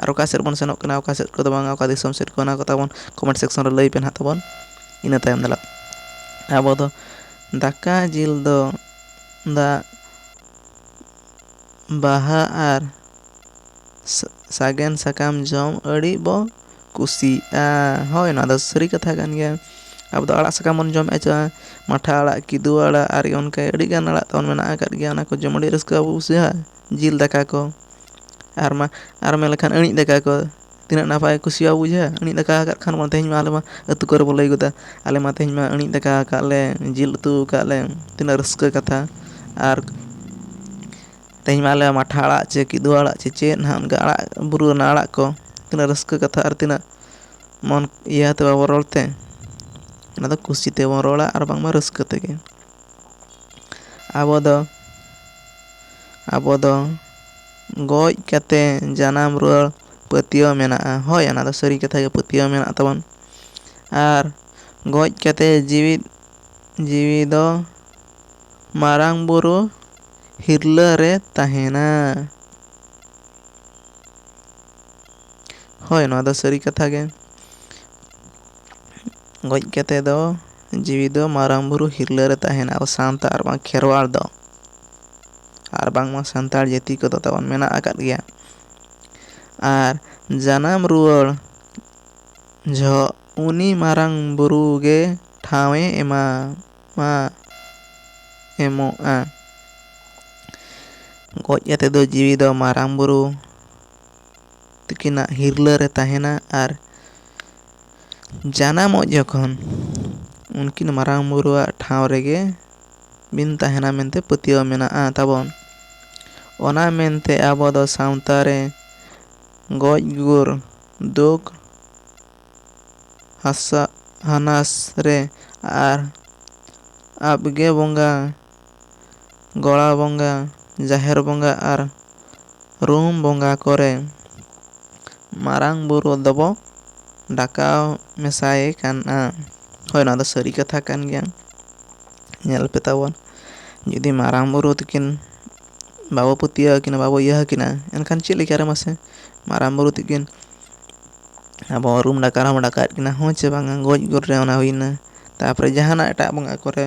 ᱟᱨ ᱚᱠᱟ ᱥᱮᱫ ᱵᱚᱱ ᱥᱮᱱᱚᱜ ᱠᱟᱱᱟ ᱚᱠᱟ ᱥᱮᱫ ᱠᱚᱫᱚ ᱵᱟᱝᱟ ᱚᱠᱟ ᱫᱤᱥᱚᱢ ᱥᱮᱫ ᱠᱚ ᱚᱱᱟ ᱠᱚ ᱛᱟᱵᱚᱱ ᱠᱚᱢᱮᱱᱴ ᱥᱮᱠᱥᱚᱱ ᱨᱮ ᱞᱟᱹᱭ ᱯᱮ ᱱᱟᱦᱟᱜ ᱛᱟᱵᱚᱱ ᱤᱱᱟᱹ ᱛᱟᱭᱚᱢ ᱫᱚ ᱱᱟᱦᱟᱜ ᱟᱵᱚ ᱫᱚ ᱫᱟᱠᱟ ᱡᱤᱞ ᱫᱚ ᱫᱟᱜ ᱵᱟᱦᱟ ᱟᱨ ᱥᱟᱜᱮᱱ ᱥᱟᱠᱟᱢ ᱡᱚᱢ ᱟᱹᱰᱤ ᱵᱚ ᱠᱩᱥᱤᱜᱼᱟ ᱦᱳᱭ ᱱᱚᱣᱟ ᱫᱚ ᱥᱟᱹᱨᱤ ᱠᱟᱛᱷᱟ ᱠᱟᱱ ᱜᱮᱭᱟ ᱟᱵᱚ ᱫᱚ ᱟᱲᱟᱜ ᱥᱟᱠᱟᱢ ᱵᱚᱱ ᱡᱚᱢᱮᱜᱼᱟ ᱪᱮ ᱵᱟᱝ ᱢᱟᱴᱷᱟ ᱟᱲᱟᱜ ᱠᱤᱫᱩᱵ ᱟᱲᱟᱜ ᱟᱨ ᱚᱱᱠᱟ ᱟᱹᱰᱤᱜᱟᱱ ᱟᱲᱟᱜ ᱛᱟᱵᱚᱱ ᱢᱮᱱᱟᱜ ᱟᱠᱟᱫ ᱜᱮᱭᱟ ᱚᱱᱟ ᱠᱚ ᱡᱚᱢ ᱟᱹᱰᱤ ᱨᱟᱹᱥᱠᱟᱹ ᱵᱚᱱ ᱵᱩᱡᱷᱟᱹᱣᱟ ᱡᱤᱞ ᱫᱟᱠᱟ ᱠᱚ ᱟᱨ ᱢᱟ ᱟᱨ ᱢᱮᱱ ᱞᱮᱠᱷᱟᱱ ᱟᱹᱬᱤᱡ ᱫᱟᱠᱟ ᱠᱚ ᱛᱤᱱᱟᱹᱜ ᱱᱟᱯᱟᱭ ᱠᱚ ᱠᱩᱥᱤᱭᱟᱜᱼᱟ ᱵᱩᱡᱷᱟᱹᱣ ᱟᱹᱬᱤᱡ ᱫᱟᱠᱟ ᱟᱠᱟᱫ ᱠᱷᱟᱱ ᱵᱚᱱ ᱛᱮᱦᱮᱧ ᱢᱟ ᱟᱞᱮ ᱢᱟ ᱟᱹᱛᱩ ᱠᱚᱨᱮ ᱵᱚᱱ ᱞᱟᱹᱭ ᱜᱚᱫᱟ ᱟᱞᱮ ᱢᱟ ᱛᱮᱦᱮᱧ ᱢᱟ ᱟᱹᱬᱤᱡ ᱫᱟᱠᱟ ᱟᱠᱟᱫ ᱞᱮ ᱡᱤᱞ ᱩᱛᱩ ᱟᱠᱟᱫ ᱞᱮ ᱛᱤᱱᱟᱹᱜ ᱨᱟᱹᱥᱠᱟᱹ ᱠᱟᱛᱷᱟ ᱟᱨ ᱛᱮᱦᱮᱧ ᱢᱟ ᱟᱞᱮ ᱢᱟᱴᱷᱟ ᱟᱲᱟᱜ ᱪᱮ ᱠᱤᱫᱩ ᱟᱲᱟᱜ ᱪᱮ ᱪᱮᱫ ᱦᱟᱸᱜ ᱚᱱᱠᱟ ᱟᱲᱟᱜ ᱵᱩᱨᱩ ᱨᱮᱱᱟᱜ ᱟᱲᱟᱜ ᱠᱚ ᱛᱤᱱᱟᱹᱜ ᱨᱟᱹᱥᱠᱟᱹ ᱠᱟᱛᱷᱟ ᱟᱨ ᱛᱤᱱᱟᱹᱜ ᱢᱚᱱ ᱤᱭᱟᱹ ᱟᱛᱮᱫ ᱵᱟᱵᱚᱱ ᱨᱚᱲ ᱛᱮ ᱚᱱᱟᱫᱚ ᱠᱩᱥᱤ ᱛᱮᱵᱚᱱ ᱨᱚᱲᱟ ᱟᱨ ᱵᱟᱝᱢᱟ ᱨᱟᱹᱥᱠᱟᱹ ᱛᱮᱜᱮ ᱟᱵᱚ ᱫᱚ ᱟᱵᱚ ᱫᱚ ᱜᱚᱡ ᱠᱟᱛᱮ ᱡᱟᱱᱟᱢ ᱨᱩᱣᱟᱹᱲ ᱯᱟᱹᱛᱭᱟᱹᱣ ᱢᱮᱱᱟᱜᱼᱟ ᱦᱳᱭ ᱚᱱᱟ ᱫᱚ ᱥᱟᱹᱨᱤ ᱠᱟᱛᱷᱟ ᱜᱮ ᱯᱟᱹᱛᱭᱟᱹᱣ ᱢᱮᱱᱟᱜ ᱛᱟᱵᱚᱱ ᱟᱨ ᱜᱚᱡ ᱠᱟᱛᱮ ᱡᱤᱣᱤᱫ ᱡᱤᱣᱤ ᱫᱚ ᱢᱟᱨᱟᱝ ᱵᱳᱨᱳ ᱦᱤᱨᱞᱟᱹ ᱨᱮ ᱛᱟᱦᱮᱱᱟ ᱦᱳᱭ ᱱᱚᱣᱟ ᱫᱚ ᱥᱟᱹᱨᱤ ᱠᱟᱛᱷᱟ ᱜᱮ ᱜᱚᱡ ᱠᱟᱛᱮ ᱫᱚ ᱡᱤᱣᱤ ᱫᱚ ᱢᱟᱨᱟᱝ ᱵᱩᱨᱩ ᱦᱤᱨᱞᱟᱹ ᱨᱮ ᱛᱟᱦᱮᱱᱟ ᱟᱵᱚ ᱥᱟᱶᱛᱟ ᱟᱨ ᱵᱟᱝ ᱠᱷᱮᱨᱣᱟᱲ ᱫᱚ ᱟᱨ ᱵᱟᱝᱢᱟ ᱥᱟᱱᱛᱟᱲ ᱡᱟᱹᱛᱤ ᱠᱚᱫᱚ ᱛᱟᱵᱚᱱ ᱢᱮᱱᱟᱜ ᱟᱠᱟᱫ ᱜᱮᱭᱟ ᱟᱨ ᱡᱟᱱᱟᱢ ᱨᱩᱣᱟᱹᱲ ᱡᱚᱦᱚᱜ ᱩᱱᱤ ᱢᱟᱨᱟᱝ ᱵᱩᱨᱩ ᱜᱮ ᱴᱷᱟᱶᱮ ᱮᱢᱟ ᱢᱟ ᱮᱢᱚᱜᱼᱟ ᱜᱚᱡ ᱠᱟᱛᱮ ᱫᱚ ᱡᱤᱣᱤ ᱫᱚ ᱢᱟᱨᱟᱝ ᱵᱩᱨᱩ ᱛᱟᱹᱠᱤᱱᱟᱜ ᱦᱤᱨᱞᱟᱹ ᱨᱮ ᱛᱟᱦᱮᱱᱟ ᱟᱨ ᱡᱟᱱᱟᱢᱚᱜ ᱡᱚᱠᱷᱚᱱ ᱩᱱᱠᱤᱱ ᱢᱟᱨᱟᱝ ᱵᱳᱨᱳᱣᱟᱜ ᱴᱷᱟᱶ ᱨᱮᱜᱮ ᱵᱤᱱ ᱛᱟᱦᱮᱱᱟ ᱢᱮᱱᱛᱮ ᱯᱟᱹᱛᱭᱟᱹᱣ ᱢᱮᱱᱟᱜᱼᱟ ᱛᱟᱵᱚᱱ ᱚᱱᱟ ᱢᱮᱱᱛᱮ ᱟᱵᱚ ᱫᱚ ᱥᱟᱶᱛᱟ ᱨᱮ ᱜᱚᱡ ᱜᱩᱨ ᱫᱩᱠ ᱦᱟᱥᱟ ᱦᱟᱱᱟᱥ ᱨᱮ ᱟᱨ ᱟᱯᱜᱮ ᱵᱚᱸᱜᱟ ᱜᱚᱲᱟ ᱵᱚᱸᱜᱟ, ᱡᱟᱦᱮᱨ ᱵᱚᱸᱜᱟ ᱟᱨ ᱨᱩᱢ ᱵᱚᱸᱜᱟ ᱠᱚᱨᱮ ᱢᱟᱨᱟᱝ ᱵᱩᱨᱩ ᱫᱚᱵᱚ ᱰᱟᱠᱟᱣ ᱢᱮᱥᱟᱭᱮ ᱠᱟᱱᱟ᱾ ᱦᱳᱭ ᱱᱚᱣᱟ ᱫᱚ ᱥᱟᱹᱨᱤ ᱠᱟᱛᱷᱟ ᱠᱟᱱ ᱜᱮᱭᱟ᱾ ᱧᱮᱞ ᱯᱮ ᱛᱟᱵᱚᱱ ᱡᱩᱫᱤ ᱢᱟᱨᱟᱝ ᱵᱩᱨᱩ ᱛᱤᱠᱤᱱ ᱵᱟᱵᱚ ᱯᱟᱹᱛᱭᱟᱹᱣ ᱟᱹᱠᱤᱱᱟ, ᱵᱟᱵᱚ ᱤᱭᱟᱹ ᱟᱹᱠᱤᱱᱟ ᱮᱱᱠᱷᱟᱱ ᱪᱮᱫ ᱞᱮᱠᱟ ᱨᱮ ᱢᱟᱥᱮ ᱢᱟᱨᱟᱝ ᱵᱩᱨᱩ ᱛᱤᱠᱤᱱ ᱟᱵᱚ ᱨᱩᱢ ᱰᱟᱠᱟᱣ ᱨᱮᱦᱚᱸ ᱵᱚ ᱰᱟᱠᱟᱣᱮᱫ ᱠᱤᱱᱟ ᱦᱮᱸ ᱪᱮ ᱵᱟᱝᱟ ᱜᱚᱡ ᱜᱩᱨ ᱨᱮ ᱚᱱᱟ ᱦᱩᱭᱮᱱᱟ᱾ ᱛᱟᱨᱯᱚᱨᱮ ᱡᱟᱦᱟᱱᱟᱜ ᱮᱴᱟᱜ ᱵᱚᱸᱜᱟ ᱠᱚᱨᱮ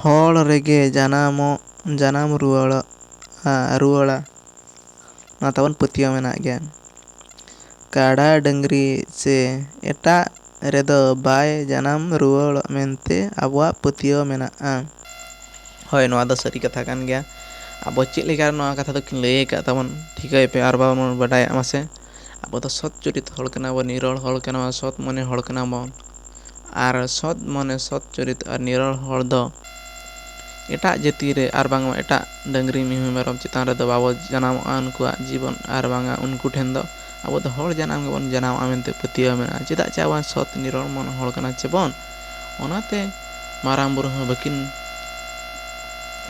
ᱦᱚᱲ ᱨᱮᱜᱮ ᱡᱟᱱᱟᱢᱚᱜ ᱡᱟᱱᱟᱢ ᱨᱩᱣᱟᱹᱲᱚᱜ ᱨᱩᱣᱟᱹᱲᱟ ᱱᱚᱣᱟ ᱛᱟᱵᱚᱱ ᱯᱟᱹᱛᱭᱟᱹᱣ ᱢᱮᱱᱟᱜ ᱜᱮᱭᱟ ᱠᱟᱰᱟ ᱰᱟᱹᱝᱨᱤ ᱥᱮ ᱮᱴᱟᱜ ᱨᱮᱫᱚ ᱵᱟᱭ ᱡᱟᱱᱟᱢ ᱨᱩᱣᱟᱹᱲᱚᱜ ᱢᱮᱱᱛᱮ ᱟᱵᱚᱣᱟᱜ ᱯᱟᱹᱛᱭᱟᱹᱣ ᱢᱮᱱᱟᱜᱼᱟ ᱦᱳᱭ ᱱᱚᱣᱟ ᱫᱚ ᱥᱟᱹᱨᱤ ᱠᱟᱛᱷᱟ ᱠᱟᱱ ᱜᱮᱭᱟ ᱟᱵᱚ ᱪᱮᱫ ᱞᱮᱠᱟ ᱱᱚᱣᱟ ᱠᱟᱛᱷᱟ ᱫᱚᱠᱤᱱ ᱞᱟᱹᱭ ᱟᱠᱟᱫ ᱛᱟᱵᱚᱱ ᱴᱷᱤᱠᱟᱹᱭ ᱯᱮ ᱟᱨ ᱵᱟᱝᱵᱚᱱ ᱵᱟᱰᱟᱭᱟᱜ ᱢᱟᱥᱮ ᱟᱵᱚ ᱫᱚ ᱥᱚᱛ ᱪᱚᱨᱤᱛ ᱦᱚᱲ ᱠᱟᱱᱟ ᱵᱚᱱ ᱱᱤᱨᱚᱲ ᱦᱚᱲ ᱠᱟᱱᱟ ᱵᱚᱱ ᱥᱚᱛ ᱢᱚᱱᱮ ᱦᱚᱲ ᱠᱟᱱᱟ ᱵᱚᱱ ᱟᱨ ᱥᱚᱛ ᱢᱚᱱᱮ ᱥᱚᱛ ᱪᱚᱨᱤᱛ ᱟᱨ ᱱᱤᱨᱚᱲ ᱦᱚᱲ ᱫᱚ ᱮᱴᱟᱜ ᱡᱟᱹᱛᱤ ᱨᱮ ᱟᱨ ᱵᱟᱝᱢᱟ ᱮᱴᱟᱜ ᱰᱟᱹᱝᱨᱤ ᱢᱤᱦᱩ ᱢᱮᱨᱚᱢ ᱪᱮᱛᱟᱱ ᱨᱮᱫᱚ ᱵᱟᱵᱚ ᱡᱟᱱᱟᱢᱚᱜᱼᱟ ᱩᱱᱠᱩᱣᱟᱜ ᱡᱤᱵᱚᱱ ᱟᱨ ᱵᱟᱝᱟ ᱩᱱᱠᱩ ᱴᱷᱮᱱ ᱫᱚ ᱟᱵᱚ ᱫᱚ ᱦᱚᱲ ᱡᱟᱱᱟᱢ ᱜᱮᱵᱚᱱ ᱡᱟᱱᱟᱢᱚᱜᱼᱟ ᱢᱮᱱᱛᱮ ᱯᱟᱹᱛᱭᱟᱹᱣ ᱢᱮᱱᱟᱜᱼᱟ ᱪᱮᱫᱟᱜ ᱪᱮ ᱟᱵᱚ ᱥᱚᱛ ᱱᱤᱨᱚᱲ ᱢᱚᱱ ᱦᱚᱲ ᱠᱟᱱᱟ ᱪᱮ ᱵᱚᱱ ᱚᱱᱟᱛᱮ ᱢᱟᱨᱟᱝ ᱵᱩᱨᱩ ᱦᱚᱸ ᱵᱟᱹᱠᱤᱱ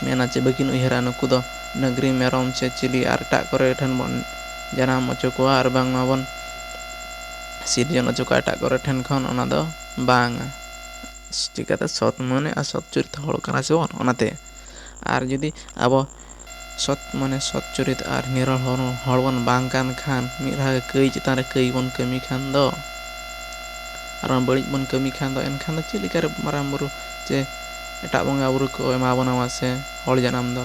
ᱢᱮᱱᱟ ᱪᱮ ᱵᱟᱹᱠᱤᱱ ᱩᱭᱦᱟᱹᱨᱟ ᱱᱩᱠᱩ ᱫᱚ ᱰᱟᱹᱝᱨᱤ ᱢᱮᱨᱚᱢ ᱥᱮ ᱪᱤᱞᱤ ᱟᱨ ᱮᱴᱟᱜ ᱠᱚᱨᱮ ᱴᱷᱮᱱ ᱵᱚᱱ ᱡᱟᱱᱟᱢ ᱚᱪᱚ ᱠᱚᱣᱟ ᱟᱨ ᱵᱟᱝ ᱢᱟ ᱵᱚᱱ ᱥᱤᱨᱡᱚᱱ ᱚᱪᱚ ᱠᱚᱣᱟ ᱮᱴᱟᱜ ᱠᱚᱨᱮ ᱴᱷᱮᱱ ᱠᱷᱚᱱ ᱚᱱᱟ ᱫᱚ ᱵᱟᱝᱟ ᱪᱤᱠᱟᱹᱛᱮ ᱥᱚᱛ ᱢᱟᱱᱮ ᱟᱨ ᱥᱚᱛ ᱪᱩᱨᱤᱛ ᱦᱚᱲ ᱠᱟᱱᱟ ᱥᱮ ᱵᱚᱱ ᱚᱱᱟᱛᱮ ᱟᱨ ᱡᱩᱫᱤ ᱟᱵᱚ ᱥᱚᱛ ᱢᱟᱱᱮ ᱥᱚᱛ ᱪᱩᱨᱤᱛ ᱟᱨ ᱱᱤᱨᱚᱲ ᱦᱚᱲ ᱵᱚᱱ ᱵᱟᱝ ᱠᱟᱱ ᱠᱷᱟᱱ ᱢᱤᱫ ᱫᱷᱟᱣ ᱜᱮ ᱠᱟᱹᱭ ᱪᱮᱛᱟᱱ ᱨᱮ ᱠᱟᱹᱭ ᱵᱚᱱ ᱠᱟᱹᱢᱤ ᱠᱷᱟᱱ ᱫᱚ ᱟᱨ ᱵᱟᱝ ᱵᱟᱹᱲᱤᱡ ᱵᱚᱱ ᱠᱟᱹᱢᱤ ᱠᱷᱟᱱ ᱫᱚ ᱮᱱᱠᱷᱟᱱ ᱫᱚ ᱪᱮᱫ ᱞᱮᱠᱟᱨᱮ ᱢᱟᱨᱟᱝ ᱵᱩᱨᱩ ᱪᱮ ᱮᱴᱟᱜ ᱵᱚᱸᱜᱟᱼᱵᱩᱨᱩ ᱠᱚ ᱮᱢᱟ ᱵᱚᱱᱟ ᱢᱟᱥᱮ ᱦᱚᱲ ᱡᱟᱱᱟᱢ ᱫᱚ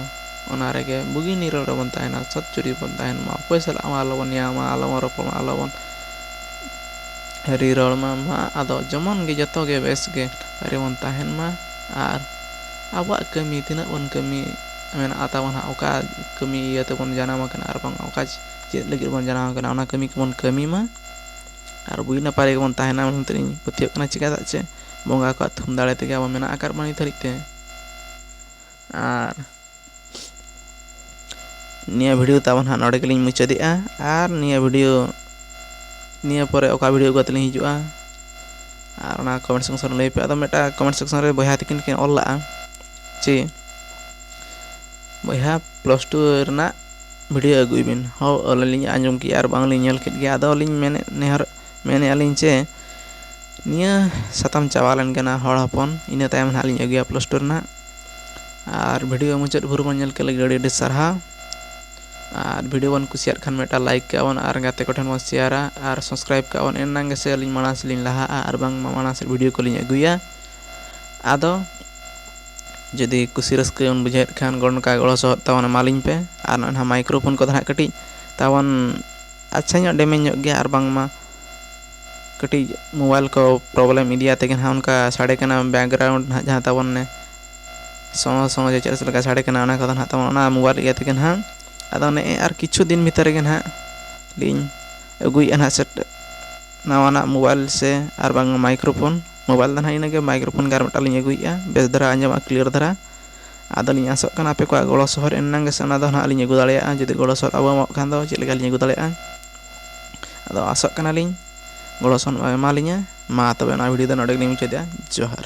ᱚᱱᱟ ᱨᱮᱜᱮ ᱵᱩᱜᱤ ᱱᱤᱨᱟᱹᱲ ᱨᱮᱵᱚᱱ ᱛᱟᱦᱮᱱᱟ ᱥᱚᱛ ᱡᱩᱨᱤ ᱨᱮᱵᱚᱱ ᱛᱟᱦᱮᱱ ᱢᱟ ᱚᱠᱚᱭ ᱥᱟᱞᱟᱜ ᱦᱚᱸ ᱟᱞᱚ ᱵᱚᱱ ᱱᱮᱭᱟᱣ ᱢᱟ ᱟᱞᱚ ᱵᱚᱱ ᱨᱚᱯᱚᱲ ᱢᱟ ᱟᱞᱚ ᱵᱚᱱ ᱟᱹᱰᱤ ᱨᱚᱲ ᱢᱟ ᱟᱫᱚ ᱡᱮᱢᱚᱱ ᱜᱮ ᱡᱚᱛᱚ ᱜᱮ ᱵᱮᱥ ᱜᱮ ᱱᱟᱯᱟᱭ ᱨᱮᱵᱚᱱ ᱛᱟᱦᱮᱱ ᱢᱟ ᱟᱨ ᱟᱵᱚᱣᱟᱜ ᱠᱟᱹᱢᱤ ᱛᱤᱱᱟᱹᱜ ᱵᱚᱱ ᱠᱟᱹᱢᱤ ᱢᱮᱱᱟᱜᱼᱟ ᱛᱟᱵᱚᱱ ᱦᱟᱸᱜ ᱚᱠᱟ ᱠᱟᱹᱢᱤ ᱤᱭᱟᱹ ᱛᱮᱵᱚᱱ ᱡᱟᱱᱟᱢ ᱟᱠᱟᱱᱟ ᱟᱨ ᱵᱟᱝ ᱚᱠᱟ ᱪᱮᱫ ᱞᱟᱹᱜᱤᱫ ᱵᱚᱱ ᱡᱟᱱᱟᱢ ᱟᱠᱟᱱᱟ ᱚᱱᱟ ᱠᱟᱹᱢᱤ ᱠᱚᱵᱚᱱ ᱠᱟᱹᱢᱤ ᱢᱟ ᱟᱨ ᱵᱩᱜᱤ ᱱᱟᱯᱟᱭ ᱨᱮᱜᱮ ᱵᱚᱱ ᱛᱟᱦᱮᱱᱟ ᱢᱮᱱᱛᱮ ᱤᱧ ᱯᱟᱹᱛᱭᱟᱹᱜ ᱠᱟᱱᱟ ᱪᱤᱠᱟᱹᱛᱮ ᱪᱮᱫ ᱵᱚᱸᱜᱟ ᱠᱚᱣᱟᱜ ᱛᱷᱩᱢ ᱫᱟᱲᱮ ᱛᱮᱜᱮ ᱟᱵᱚ ᱢᱮᱱᱟᱜ ᱟᱠᱟᱫ ᱵᱚᱱᱟ ᱱᱤᱛ ᱦᱟᱹᱨᱤᱡ ᱛᱮ ᱟᱨ ᱱᱤᱭᱟᱹ ᱵᱷᱤᱰᱤᱭᱳ ᱛᱟᱵᱚᱱ ᱦᱟᱸᱜ ᱱᱚᱰᱮ ᱜᱮᱞᱤᱧ ᱢᱩᱪᱟᱹᱫᱮᱜᱼᱟ ᱟᱨ ᱱᱤᱭᱟᱹ ᱵᱷᱤᱰᱤᱭᱳ ᱱᱤᱭᱟᱹ ᱯᱚᱨᱮ ᱚᱠᱟ ᱵᱷᱤᱰᱤᱭᱳ ᱟᱹᱜᱩ ᱠᱟᱛᱮ ᱞᱤᱧ ᱦᱤᱡᱩᱜᱼᱟ ᱟᱨ ᱚᱱᱟ ᱠᱚᱢᱮᱱᱴ ᱥᱮᱠᱥᱚᱱ ᱨᱮ ᱞᱟᱹᱭ ᱯᱮ ᱟᱫᱚ ᱢᱤᱫᱴᱟᱝ ᱠᱚᱢᱮᱱᱴ ᱥᱮᱠᱥᱚᱱ ᱨᱮ ᱵᱚᱭᱦᱟ ᱛᱤᱠᱤᱱ ᱠᱤᱱ ᱚᱞ ᱞᱟᱜᱼᱟ ᱡᱮ ᱵᱚᱭᱦᱟ ᱯᱞᱟᱥ ᱴᱩ ᱨᱮᱱᱟᱜ ᱵᱷᱤᱰᱤᱭᱳ ᱟᱹᱜᱩᱭ ᱵᱤᱱ ᱦᱚ ᱟᱹᱞᱤᱧ ᱟᱸᱡᱚᱢ ᱠᱮᱜᱼᱟ ᱟᱨ ᱵᱟᱝᱞᱤᱧ ᱧᱮᱞ ᱠᱮᱫ ᱜᱮᱭᱟ ᱟᱫᱚ ᱞᱤᱧ ᱢᱮᱱᱮᱫ ᱱᱮᱦᱚᱨ ᱢᱮᱱᱮᱫᱼᱟ ᱞᱤᱧ ᱡᱮ ᱱᱤᱭᱟᱹ ᱥᱟᱛᱟᱢ ᱪᱟᱵᱟ ᱞᱮᱱ ᱜᱮ ᱱᱟᱜ ᱦᱚᱲ ᱦᱚᱯᱚᱱ ᱤᱱᱟᱹ ᱛᱟᱭᱚᱢ ᱦᱟᱸᱜ ᱞᱤᱧ ᱟᱹᱜᱩᱭᱟ ᱯᱞᱟᱥ ᱴᱩ ᱨᱮᱱᱟᱜ ᱟᱨ ᱵᱷᱤᱰᱤᱭᱳ ᱢᱩᱪᱟᱹᱫ ᱵᱷᱳᱨ ᱵᱚᱱ ᱧᱮᱞ ᱠᱮᱫ ᱞᱟᱹᱜᱤᱫ ᱟᱹᱰᱤ ᱟᱹᱰᱤ ᱥᱟᱨᱦᱟᱣ ᱟᱨ ᱵᱷᱤᱰᱤᱭᱳ ᱵᱚᱱ ᱠᱩᱥᱤᱭᱟᱜ ᱠᱷᱟᱱ ᱢᱤᱫᱴᱟᱝ ᱞᱟᱭᱤᱠ ᱠᱟᱜᱼᱟ ᱵᱚᱱ ᱟᱨ ᱜᱟᱛᱮ ᱠᱚᱴᱷᱮᱱ ᱵᱚᱱ ᱥᱮᱭᱟᱨᱟ ᱟᱨ ᱥᱟᱵᱥᱠᱨᱟᱭᱤᱵᱽ ᱠᱟᱜᱼᱟ ᱵᱚᱱ ᱮᱱᱟᱝ ᱜᱮᱥᱮ ᱟᱹᱞᱤᱧ ᱢᱟᱲᱟᱝ ᱥᱮᱫ ᱞᱤᱧ ᱞᱟᱦᱟᱜᱼᱟ ᱟᱨ ᱵᱟᱝ ᱢᱟᱲᱟᱝ ᱥᱮᱫ ᱵᱷᱤᱰᱤᱭᱳ ᱠᱚᱞᱤᱧ ᱟᱹᱜᱩᱭᱟ ᱟᱫᱚ ᱡᱩᱫᱤ ᱠᱩᱥᱤ ᱨᱟᱹᱥᱠᱟᱹ ᱵᱮᱱ ᱵᱩᱡᱷᱟᱹᱣᱮᱫ ᱠᱷᱟᱱ ᱱᱚᱝᱠᱟ ᱜᱚᱲᱚ ᱥᱚᱦᱚᱫ ᱛᱟᱵᱚᱱ ᱮᱢᱟ ᱞᱤᱧ ᱯᱮ ᱟᱨ ᱱᱚᱜᱼᱚᱭ ᱱᱟᱦᱟᱜ ᱢᱟᱭᱠᱨᱳ ᱯᱷᱳᱱ ᱠᱚᱫᱚ ᱦᱟᱸᱜ ᱠᱟᱹᱴᱤᱡ ᱛᱟᱵᱚᱱ ᱟᱪᱪᱷᱟ ᱧᱚᱜ ᱰᱮᱢᱮᱡᱽ ᱧᱚᱜ ᱜᱮᱭᱟ ᱟᱨ ᱵᱟᱝᱢᱟ ᱠᱟᱹᱴᱤᱡ ᱢᱳᱵᱟᱭᱤᱞ ᱠᱚ ᱯᱨᱚᱵᱞᱮᱢ ᱤᱫᱤ ᱟᱛᱮ ᱜᱮ ᱱᱟᱦᱟᱜ ᱚᱱᱠᱟ ᱥᱟᱰᱮ ᱠᱟᱱᱟ ᱵᱮᱠᱜᱨᱟᱣᱩᱱᱰ ᱱᱟᱦᱟᱜ ᱡᱟᱦᱟᱸ ᱛᱟᱵᱚᱱ ᱚᱱᱮ ᱥᱚᱸ ᱥᱚᱸ ᱪᱮᱫ ᱪᱚ ᱚᱱᱠᱟ ᱥᱟᱰᱮ ᱠᱟᱱᱟ ᱚᱱᱟ ᱠᱚᱫᱚ ᱱᱟᱦᱟᱜ ᱛᱟᱵᱚᱱ ᱚᱱᱟ ᱢᱳᱵᱟᱭᱤᱞ ᱤᱭᱟᱹ ᱛᱮᱜᱮ ᱱᱟᱦᱟᱜ ᱟᱫᱚ ᱱᱮᱜᱼᱮ ᱟᱨ ᱠᱤᱪᱷᱩ ᱫᱤᱱ ᱵᱷᱤᱛᱨᱤ ᱜᱮ ᱱᱟᱦᱟᱜ ᱞᱤᱧ ᱟᱹᱜᱩᱭᱮᱫᱼᱟ ᱱᱟᱦᱟᱜ ᱥᱮᱴ ᱱᱟᱣᱟᱱᱟᱜ ᱢᱳᱵᱟᱭᱤᱞ ᱥᱮ ᱟᱨ ᱵᱟᱝ ᱢᱟᱭᱠᱨᱳ ᱯᱷᱳᱱ ᱢᱳᱵᱟᱭᱤᱞ ᱫᱚ ᱱᱟᱦᱟᱜ ᱤᱱᱟᱹ ᱜᱮ ᱢᱟᱭᱠᱨᱳ ᱯᱷᱳᱱ ᱜᱮ ᱟᱨ ᱢᱤᱫᱴᱟᱝ ᱞᱤᱧ ᱟᱹᱜᱩᱭᱮᱫᱼᱟ ᱵᱮᱥ ᱫᱷᱟᱨᱟ ᱟᱸᱡᱚᱢᱚᱜᱼᱟ ᱠᱞᱤᱭᱟᱨ ᱫᱷᱟᱨᱟ ᱟᱫᱚ ᱞᱤᱧ ᱟᱥᱚᱜ ᱠᱟᱱᱟ ᱟᱯᱮ ᱠᱚᱣᱟᱜ ᱜᱚᱲᱚ ᱥᱚᱦᱚᱫ ᱮᱱᱟᱝ ᱜᱮᱥᱮ ᱚᱱᱟ ᱫᱚ ᱱᱟᱦᱟᱜ ᱞᱤᱧ ᱟᱹᱜᱩ ᱫᱟᱲᱮᱭᱟᱜᱼᱟ ᱡᱩᱫᱤ ᱜᱚᱲᱚ ᱥᱚᱦᱚᱫ ᱵᱟᱵᱚᱱ ᱮᱢᱚᱜ ᱠᱷᱟᱱ ᱫᱚ ᱪᱮᱫ ᱞᱮᱠᱟ ᱞᱤᱧ ᱟᱹᱜᱩ ᱫᱟᱲᱮᱭᱟᱜᱼᱟ ᱟᱫᱚ ᱟᱥᱚᱜ ᱠᱟᱱᱟᱞᱤᱧ ᱜᱚᱲᱚ ᱥᱚᱯᱚᱦᱚᱫ ᱮᱢᱟᱞᱤᱧᱟ ᱢᱟ ᱛᱚᱵᱮ ᱱᱚᱣᱟ ᱵᱷᱤᱰᱤᱭᱳ ᱫᱚ ᱱᱚᱰᱮ ᱜᱮᱞᱤᱧ ᱢᱩᱪᱟᱹᱫᱮᱜᱼᱟ ᱡᱚᱦᱟᱨ